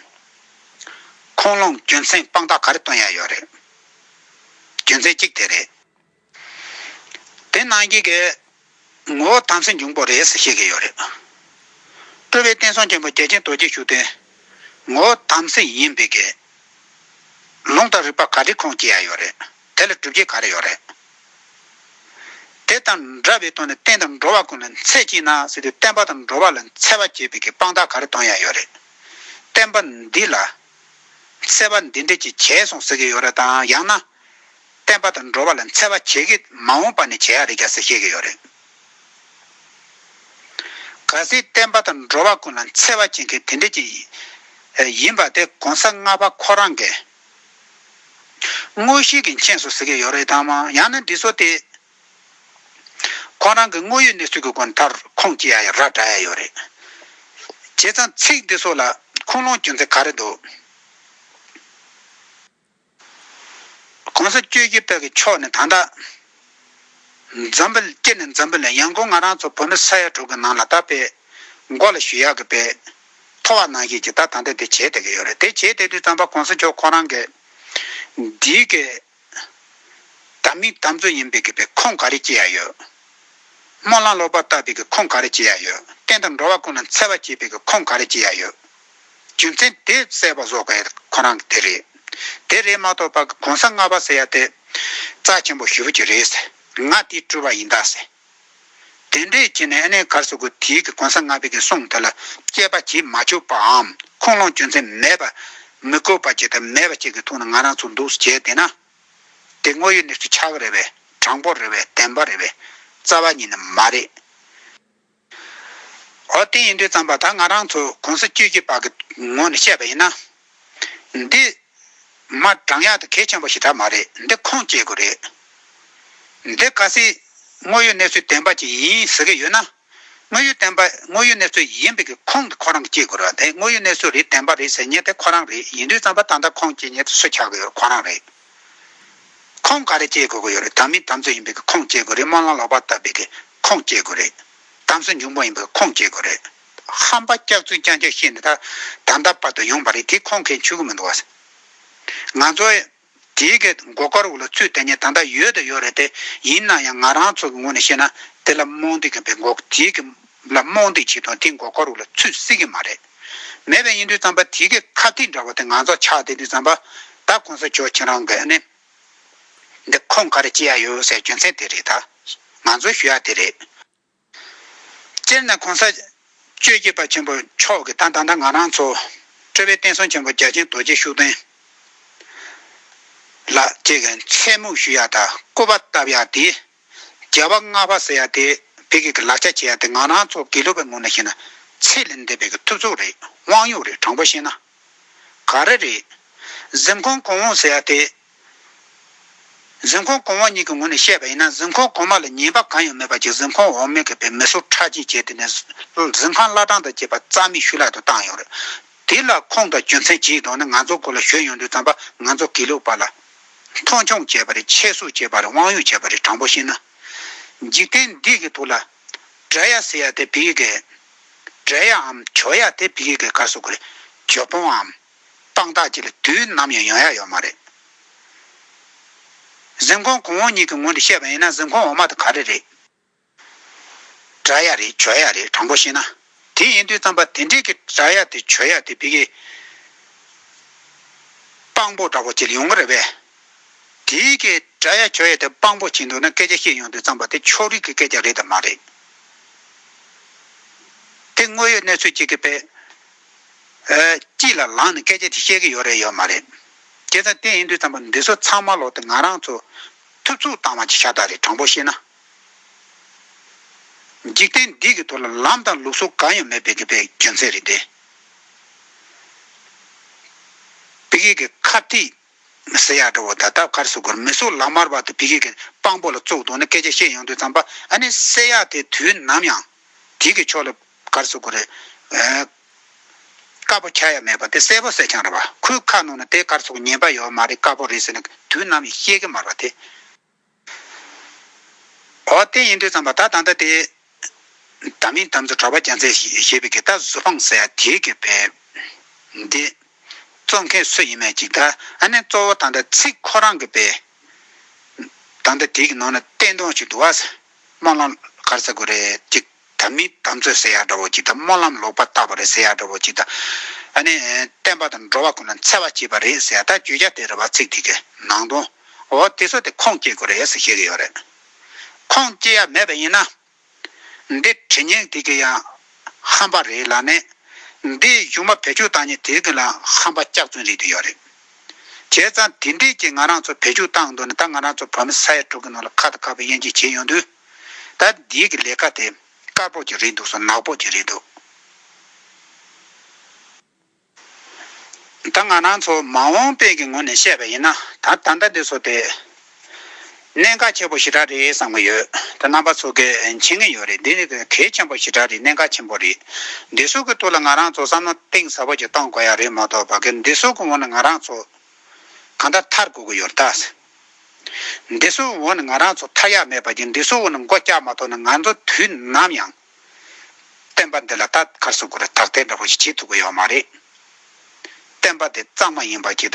ཁུངས་ལུང་རྒྱུ་མཚན་དཔང་རྟགས་ག་རེ་བཏོན་ཡ་ཡོད་རེད། རྒྱུ་མཚན་གཅིག་དེ་རེད། དེ་གནང་གི་གི། ངོ་བོ་དམ་སྲི་འབྱུང་པོ་རེད་ཟེར་བཤད་གི་ཡོད་རེད། སྤྲུལ་པའི་བསྟན་སྲུང་ཆེན་པོ་རྒྱལ་ཆེན་རྡོ་རྗེ་ཤུགས་ལྡན། ངོ་བོ་དམ་སྲི་ཡིན་པའི་གི། ལུང་དང་རིགས་པ་ག་དྲི་ཁོང་སྐྱེ་ཡ་ཡོད་རེད་དེ་ལ་སྒྲུབ་བྱེད་ག་རེ་ཡོད་རེད། དེ་དང་འདྲ་བའི་དོན་ནི་བསྟན་དང་འགྲོ་བ་ཀུན་ལ་འཚེ་བགྱིད་ན་ཟེར་དུས་བསྟན་པ་དང་འགྲོ་བ་ལ་འཚེ་བ་བགྱིད་པའི་གི་དཔང་རྟགས་ག་རེ་གཏོང་ཡ་ཡོད་རེད། བསྟན་པ་འདི་ལ། འཚེ་བ་འདི་འདྲས་ཀྱི་བྱས་སོང་ཟེར་གི་ཡོད་རེད་དམ་ཡང་ན། བསྟན་པ་དང་འགྲོ་བ་ལ་འཚེ་བ་བྱེད་ཀྱི་མ་འོངས་པ་ནས་བྱེད་ཡག་རེད་རྒྱ་སེ་ཤེས་ཀྱི་ཡོད་རེད། ག་སྲིད་བསྟན་པ་དང་འགྲོ་བ་ཀུན་ལ་འཚེ་བ་བྱེད་མཁན་དེ་འདྲས་ཀྱི་ཡིན་པ་དེ་གོང་ས་ལྔ་པ་ཁོ་རང་གི་དངོས་གཞི་གི་མཁྱེན་སོ་ཟེར་གྱི་ཡོད་རེད་དམ་ཡང་ན་འདི་ཚོ་དེ་ཁོང་རང་གི་དངོས་ཡོད་གནས་ཚུལ་གྱི་སྒོ་ནས་མཐར་ཁུངས་སྐྱེལ་ཡག་རག་གྲགས་ཡག་ཡོད་རེད། བྱས་ཙང་ཚིག་འདི་ཚོ་ལ་ཁུངས་ལུང་རྒྱུ་མཚན་ག་རེ་འདུག། གོང་ས་བཅོས་བསྒྱུར་དག་གི་ཕྱོགས་ནས་དང་ད། འཛམ་བུ་སྐྱེ་ནས་འཛམ་བུ་ལས་ཡང་སྒོ་ང་རང་ཚོ་བོད་མི་ས་ཡ་དྲུག་གི་ནང་ལ་ད་སྤེལ། མགོ་ལ་ཞུ་ཡག་གི་སྤེལ། མཐོ་བ་ནང་བཞིན་གྱི་ད་དང་དེ་དེ་བྱེད་བསྡད་གི་ཡོད་རེད་དེ་བྱེད་བསྡད་དུས་རྩམ་པ་གོང་ས་མཆོག་ཁོང་རང་གི། འདིའི་གི། དམ་མིག་དམ་བཙོ་ཡིན་པའི་གི་པའི་ཁོངས་ག་རེ་སྐྱེ་ཡག་ཡོད། སྨོན་ལམ་ལོག་པར་བཏགས་པའི་གི་ཁོངས་ག་རེ་སྐྱེ་ཡག་ཡོད་བསྟན་དང་འགྲོ་བ་ཀུན་ལ་འཚེ་བ་བྱེད་པའི་གི་ཁོངས་ག་རེ་སྐྱེ་ཡག་ཡོད། རྒྱུ་མཚན་དེ་གསལ་བར་བཟོ་དགོས་ཁོ་རང་གི་དེ་རེད། དེ་རེད་མ་གཏོགས་པ་གོང་ས་ལྔ་པ་ཟེར་ཡ་དེ། རྩ་ཆེན་པོ་ཞུ་རྒྱུ་རེད་ཟེར་ང་དེ་སྤྲུལ་བ་ཡིན་དཱ་ཟེར། དེ་འདྲས་བྱས་ནས་ཨ་ནེ་གར་སོ་གུ་དེའི་གི་གོང་ས་ལྔ་པའི་གི་གསུང་དེ་ལ་དཔྱད་པ་བྱེད་མ་བཅུག་པའམ་ཁུངས་ལུང་རྒྱུ་མཚན་མེད་པ། མི་དགོས་པ་བྱས་དང་མེད་པ་བྱས་གི་ཐུགས་ན་ང་རང་ཚོ་འདུག་བྱས་དེ་ན། དེ་དངོས་ཡོད་གནས་ཚུལ་ཆ་བོ་རེད་བས་དྲང་པོ་རེད་བས་བདེན་པ་རེད་བས་རྩ་བ་ཉིད་ནི་མ་རེད། འོ་དེ་ཡིན་དུས་བརྩམས་པ་དག་ང་རང་ཚོ་གོང་ས་བཅུད་ཀྱི་བར་གྱི་ངོ་ནས་བཤད་པ་ཡིན་ན། འདི། མ་བགྲང་ཡག་ཏུ་གལ་ཆེན་པོ་ཞིག་དག་མ་རེད་འདི་ཁོང་བཅས་དགོས་རེད། འདི་ག་སྲིད། དངོས་ཡོད་གནས་ཚུལ་བདེན་པ་ཅིག་ཡིན་ཟེར་གྱི་ཡོད་ན། དངོས་ཡོད་བདེན་པ་དངོས་ཡོད་གནས་ཚུལ་ཡིན་པའི་གི་ཁོང་གི་ཁོ་རང་གི་བཅས་དགོས་ར་དེ་དངོས་ཡོད་གནས་ཚུལ་རེད་བདེན་པ་རེད་ཟེར་ཉེན་དེ་ཁོ་རང་རེད་ཡིན་དུས་བརྩམས་པ་དག་འདི་ཁོང་བཅས་ཉེན་དུ་སུ་ཆགས་གི་ཡོད་ར་ཁོ་རང་རེད། ཁོངས་ག་རེ་བཅད་དགོས་ཀྱི་ཡོད་རེད་དམ་མི་དམ་ཚོད་ཡིན་པའི་ཁོངས་བཅད་དགོས་རེད་དམངས་ལ་ལོག་པར་བཏབ་པའི་ཁོངས་བཅད་དགོས་རེད་དམ་སྲིད་འབྱུང་པོ་ཡིན་པའི་ཁོངས་བཅད་དགོས་རེད། ཧམ་པ་སྐྱག་རྫུན་རྐྱང་རྐྱང་བཤད་ནས་ད་ད་ལྟ་བར་དུ་ཡོང་བ་རེད་དེ་ཁོངས་ཁེ་འཆུ་གི་མི་འདུག་ང་ཚོ་དེའི་གི་མགོ་སྐོར་འུ་ལ་ཚུད་དེ་ནས་ད་ལྟ་ཡོད་དང་ཡོད་རེད་དེ་ཡིན་ན་ཡང་ང་རང་ཚོ་གི་ངོས་ནས་བཤད་ན་དེ་ལ་རྨོངས་དད་ཀྱི་མགོ་དེའི་གི་ལ་རྨོངས་དད་བྱེད་དང་དེའི་མགོ་སྐོར་འུ་ལ་ཚུད་སྲིད་ཀྱི་མ་རེད། མེད་པའི་ཡིན་དུས་བརྩམས་པ་དེ་གའི་ཁ་ཐིག་འདྲ་བ་དེ་ང་ཚོ་ཆགས་བསྡད་དུས་བརྩམས་པ། ད་གོང་ས་མཆོག་ཁྱེད་རང་གིས་ནི། འདི་ཁོང་ག་རེ་བྱེད་ཡ་ཡོད་ཟེར་རྒྱུ་མཚན་དེ་རེད་ད། ང་ཚོས་ཞུ་ཡ་དེ་རེད། སྤྱིར་ན་གོང་ས། ཆོས་རྒྱལ་བ་ཆེན་པོ་མཆོག་གིས་ད་ད་ལྟ་ང་རང་ཚོ། ཁྲོས་པའི་བསྟན་སྲུང་ཆེན་པོ་རྒྱ་ཆེན་རྡོ་རྗེ་ཤུགས་ལྡན། ལགས་ཀྱིས་མཚན་སྨོད་ཞུ་ཡ་དང་སྐུ་པར་བཏབ་ཡ་དེ། རྒྱལ་བ་ལྔ་པ་ཟེར་ཡ་དེ་བོད་སྐད་ཀྱི་ལག་ཆ་བྱེད་ཡ་དེ་ང་རང་ཚོ་དགེ་ལུགས་པའི་ངོས་ནས་བཤད་ན་ཚད་ལས་འདས་པའི་གི་ཐུབ་ཚོགས་རེད་དབང་གཡོག་རེད་དྲང་པོ་བཤད་ན། ག་རེ་རེད། གཟིམ་ཁང་གོང་འོག་ཟེར་ཡ་དེ། གཟིམ་ཁང་གོང་འོག་གཉིས་ཀྱི་ངོས་ནས་བཤད་པ་ཡིན་ན་གཟིམ་ཁང་གོང་མ་ལ་ཉེས་པ་གང་ཡང་མེད་པ་ཅིག་གཟིམ་ཁང་འོག་མའི་གི་བའི་མི་སོ་ཁྲག་གཅིག་བྱས་དེ་ནས་གཟིམ་ཁང་བླ་བྲང་དང་བཅས་པ་རྩ་མེད་ཤུལ་ལག་ཏུ་བཏང་ཡོད་རེད། དེ་ལ་ཁོང་དང་རྒྱུ་མཚན་ཇིའི་ཐོག་ནས་ང་ཚོ་སྐོར་ལ་ཞོལ་ཡོང་དུས་བརྩམས་པ་ང་ཚོ་དགེ་ལུགས་པ་ལ། མཐོང་ཆུང་བྱས་པ་རེད་ཆེ་བསུ་བྱས་པ་རེད་དབང་ཡོད་བྱས་པ་རེད་དྲང་པོ་བཤད་ན། འཇིག་རྟེན་འདི་གི་ཐུགས་ལ། བསྒྲལ་ཡ་ཟེར་ཡ་དེ་བི་ཀི་ཀའི། བསྒྲལ་ཡ་འམ་བྱོལ་ཡ་དེ་བི་ཀི་ཀའི་བཀའ་སོགས་ཀྱི་རེད། བྱོལ་བོང་འམ། སྤང་ཐག་བཅས་ལ་དུས་ནམ་ཡང་ཡོང་ཡ་ཡོད་མ་རེད། གཟིམ་ཁང་གོང་འོག་གཉིས་ཀྱི་ངོས་འདི་བཤད་པ་ཡིན་ན་གཟིམ་ཁང་འོག་མ་དེ་ག་རེ་རེད། སྒྲ་ཡ་རེད་བརྗོད་ཡ་རེད་དྲང་པོ་བཤད་ན། དེ་ཡིན་དུས་རྩམ་པ་དེ་འདྲས་ཀྱི་སྒྲ་ཡ་དེ་བརྗོད་ཡ་དེ་བི་གི་དཔང་པོ་འདྲ་པོ་བྱེད་ཡོང་གི་རེད་པས། དེ་གི་སྒྲ་ཡ་བརྗོད་ཡ་དེ་དཔང་པོ་བྱེད་འདུག་ན་སྐད་ཆ་བཤད་ཡོང་དུས་རྩམ་པ་དེ་ཕྱོགས་རིས་ཀྱི་སྐད་ཆ་རེད་དམ་མ་རེད། དེ་དངོས་ཡོད་གནས་ཚུལ་ཅིག་གི་དཔེ་དཀྱིལ་ལ་ལངས་ནས་སྐད་ཆ་དེ་བཤད་ཀྱི་ཡོད་རེད་ཡོད་མ་རེད། དེ་ཚ་དེ་ཡིན་དུས་རྩམ་པ་འདི་ཚོ་ཚང་མ་ལོག་སྟེ་ང་རང་ཚོ་ཐུབ་ཚུགས་བཏང་བ་ཅིག་ཤ་སྟག་རེད་དྲང་པོ་བཤད་ན། འཇིག་རྟེན་འདི་གི་ཐོག་ལ་ལམ་དང་ལུགས་སྲོལ་གང་ཡང་མེད་པའི་གི་པའི་རྒྱུ་མཚན་རེད་དེ། བི་གེ་གི་ཁ་ཐིག་ཟེར་ཡག་འདྲ་བོ་ད་ལྟ་གར་སོ་གོར་མི་སོ་ལག་དམར་བར་དུ་བི་གེ་གི་དཔང་པོ་ལ་བཙོག་དོགས་ནས་སྐད་ཆ་བཤད་ཡོང་དུས་ཙམ་པ་ཨ་ནི་བསད་ཡག་དེ་དུས་ནམ་ཡང་དེ་གི་ཕྱོགས་ལ་གར་སོ་གོ་རེ་དཀར་པོ་ཁྱ་ཡ་མེད་པ་དེ་གསལ་པོ་བསད་ཆང་འདྲ་བ་ཁོའི་ཁ་ནང་ན་དེ་གར་སོ་གོ་ཉན་པ་ཡོད་མ་རེད་དཀར་པོ་རེད་ཟེར་ནས་དུས་ནམ་ཡང་བཤད་གི་མར་བ་དེ། འོ་དེ་ཡིན་དུས་ཙམ་པ་ད་ད་ལྟ་དེ། ད་མིན་དམ་ཚིག་གྲོགས་པ་རྒྱ་མཚན་ཞེས་པའི་གི་ད་གཟུ་དཔང་ཟེར་ཡ་དེའི་གི་པའི། འདི། གཙོ་མཁན་སུ་ཡིན་མེད་ཅིག་ད་ཨ་ནེ་གཙོ་བོ་ད་ད་ཚིག་ཁོ་རང་གི་པའི། ད་ད་དེའི་གི་ནང་ན་བསྟན་དོང་ཞིག་འདུག་ཨ། སྨོན་ལམ་གར་ས་དགོས་རེད་ཅིག། ད་མི་དམ་ཚོད་ཟེར་ཡག་འདྲ་བོ་ཅིག་དང་སྨོན་ལམ་ལོག་པར་བཏགས་པ་རེད་ཟེར་ཡག་འདྲ་བོ་ཅིག་དང། ཨ་ནི། བསྟན་པ་དང་འགྲོ་བ་ཁོ་ན་འཚེ་བ་བྱེད་པ་རེད་ཟེར་ཡག་ད་བརྗོད་བྱ་དེ་རེད་བ་ཚིག་དེ་གི་ནང་དོན། འོ་དེ་ཚོ་དེ་ཁུངས་སྐྱེལ་དགོས་རེད་ཟེར་ཤེས་གི་ཡོད་རེད། ཁུངས་སྐྱེལ་ཡ་མེད་པ་ཡིན་ན། འདི་དྲི་སྙན་དེ་གི་ཡང་ཧམ་པ་རེད་ལ་ནི། འདིའི་གཞུང་མ་བེད་སྤྱོད་བཏང་ཉིན་དེ་གི་ལའང་ཧམ་པ་སྐྱག་རྫུན་རེད་དུ་ཡོད་རེད། བྱས་ཙང་དེ་འདྲིས་ཀྱི་ང་རང་ཚོ་བེད་སྤྱོད་བཏང་འདུག་ན་ད་ང་རང་ཚོ་བོད་མི་ས་ཡ་དྲུག་གི་ནང་ལ་ཁ་དང་ཁ་བའི་དབྱེ་འབྱེད་བྱས་ཡོང་དུས། ད་འདིའི་གི་ལས་ཀ་དེ་དཀར་པོ་གྱི་རེད་འདུག་སོ་ནག་པོ་གྱི་རེད་འདུག། ད་ང་རང་ཚོ་མ་འོངས་པའི་གི་ངོ་ནས་བཤད་པ་ཡིན་ན་ད་ད་ལྟ་འདི་ཚོ་དེ་གནད་འགག་ཆེན་པོ་ཞེ་དྲག་རེད་བསམ་གི་ཡོད་དེ་རྣམ་པ་ཚོ་གི་འཆད་ངེས་ཡོད་རེད་འདི་ནི་གལ་ཆེན་པོ་ཞེ་དྲག་རེད་གནད་འགག་ཆེན་པོ་རེད། འདི་ཚོ་གི་ཐུགས་ལ་ང་རང་ཚོ་བསམ་བློ་གཏིང་ཟབ་པོ་གྱི་གཏོང་དགོས་ཡ་རེད་མ་གཏོགས་པ་གི་འདི་ཚོ་གི་ངོ་ནས་ང་རང་ཚོ་གང་ལྟར་མཐར་དགོས་གི་ཡོད་རེད་ད། འདི་གསོ་བོ་ནི་ང་རང་ཚོ་མཐའ་ཡག་མེད་པ་བརྒྱུད་འདི་གསོ་བོ་ནི་མགོ་བཀྱག་མ་ཐོག་ནས་ང་ཚོ་དུས་ནམ་ཡང། བསྟན་པ་འདི་ལ་ད་གར་གསོད་དགོས་རེད་དག་ཐེར་འདྲ་བོ་ཞིག་བྱེད་ཐུབ་ཀྱི་ཡོད་མ་རེད། བསྟན་པ་འདི་གཙང་མ་ཡིན་པ་བརྒྱུད་ད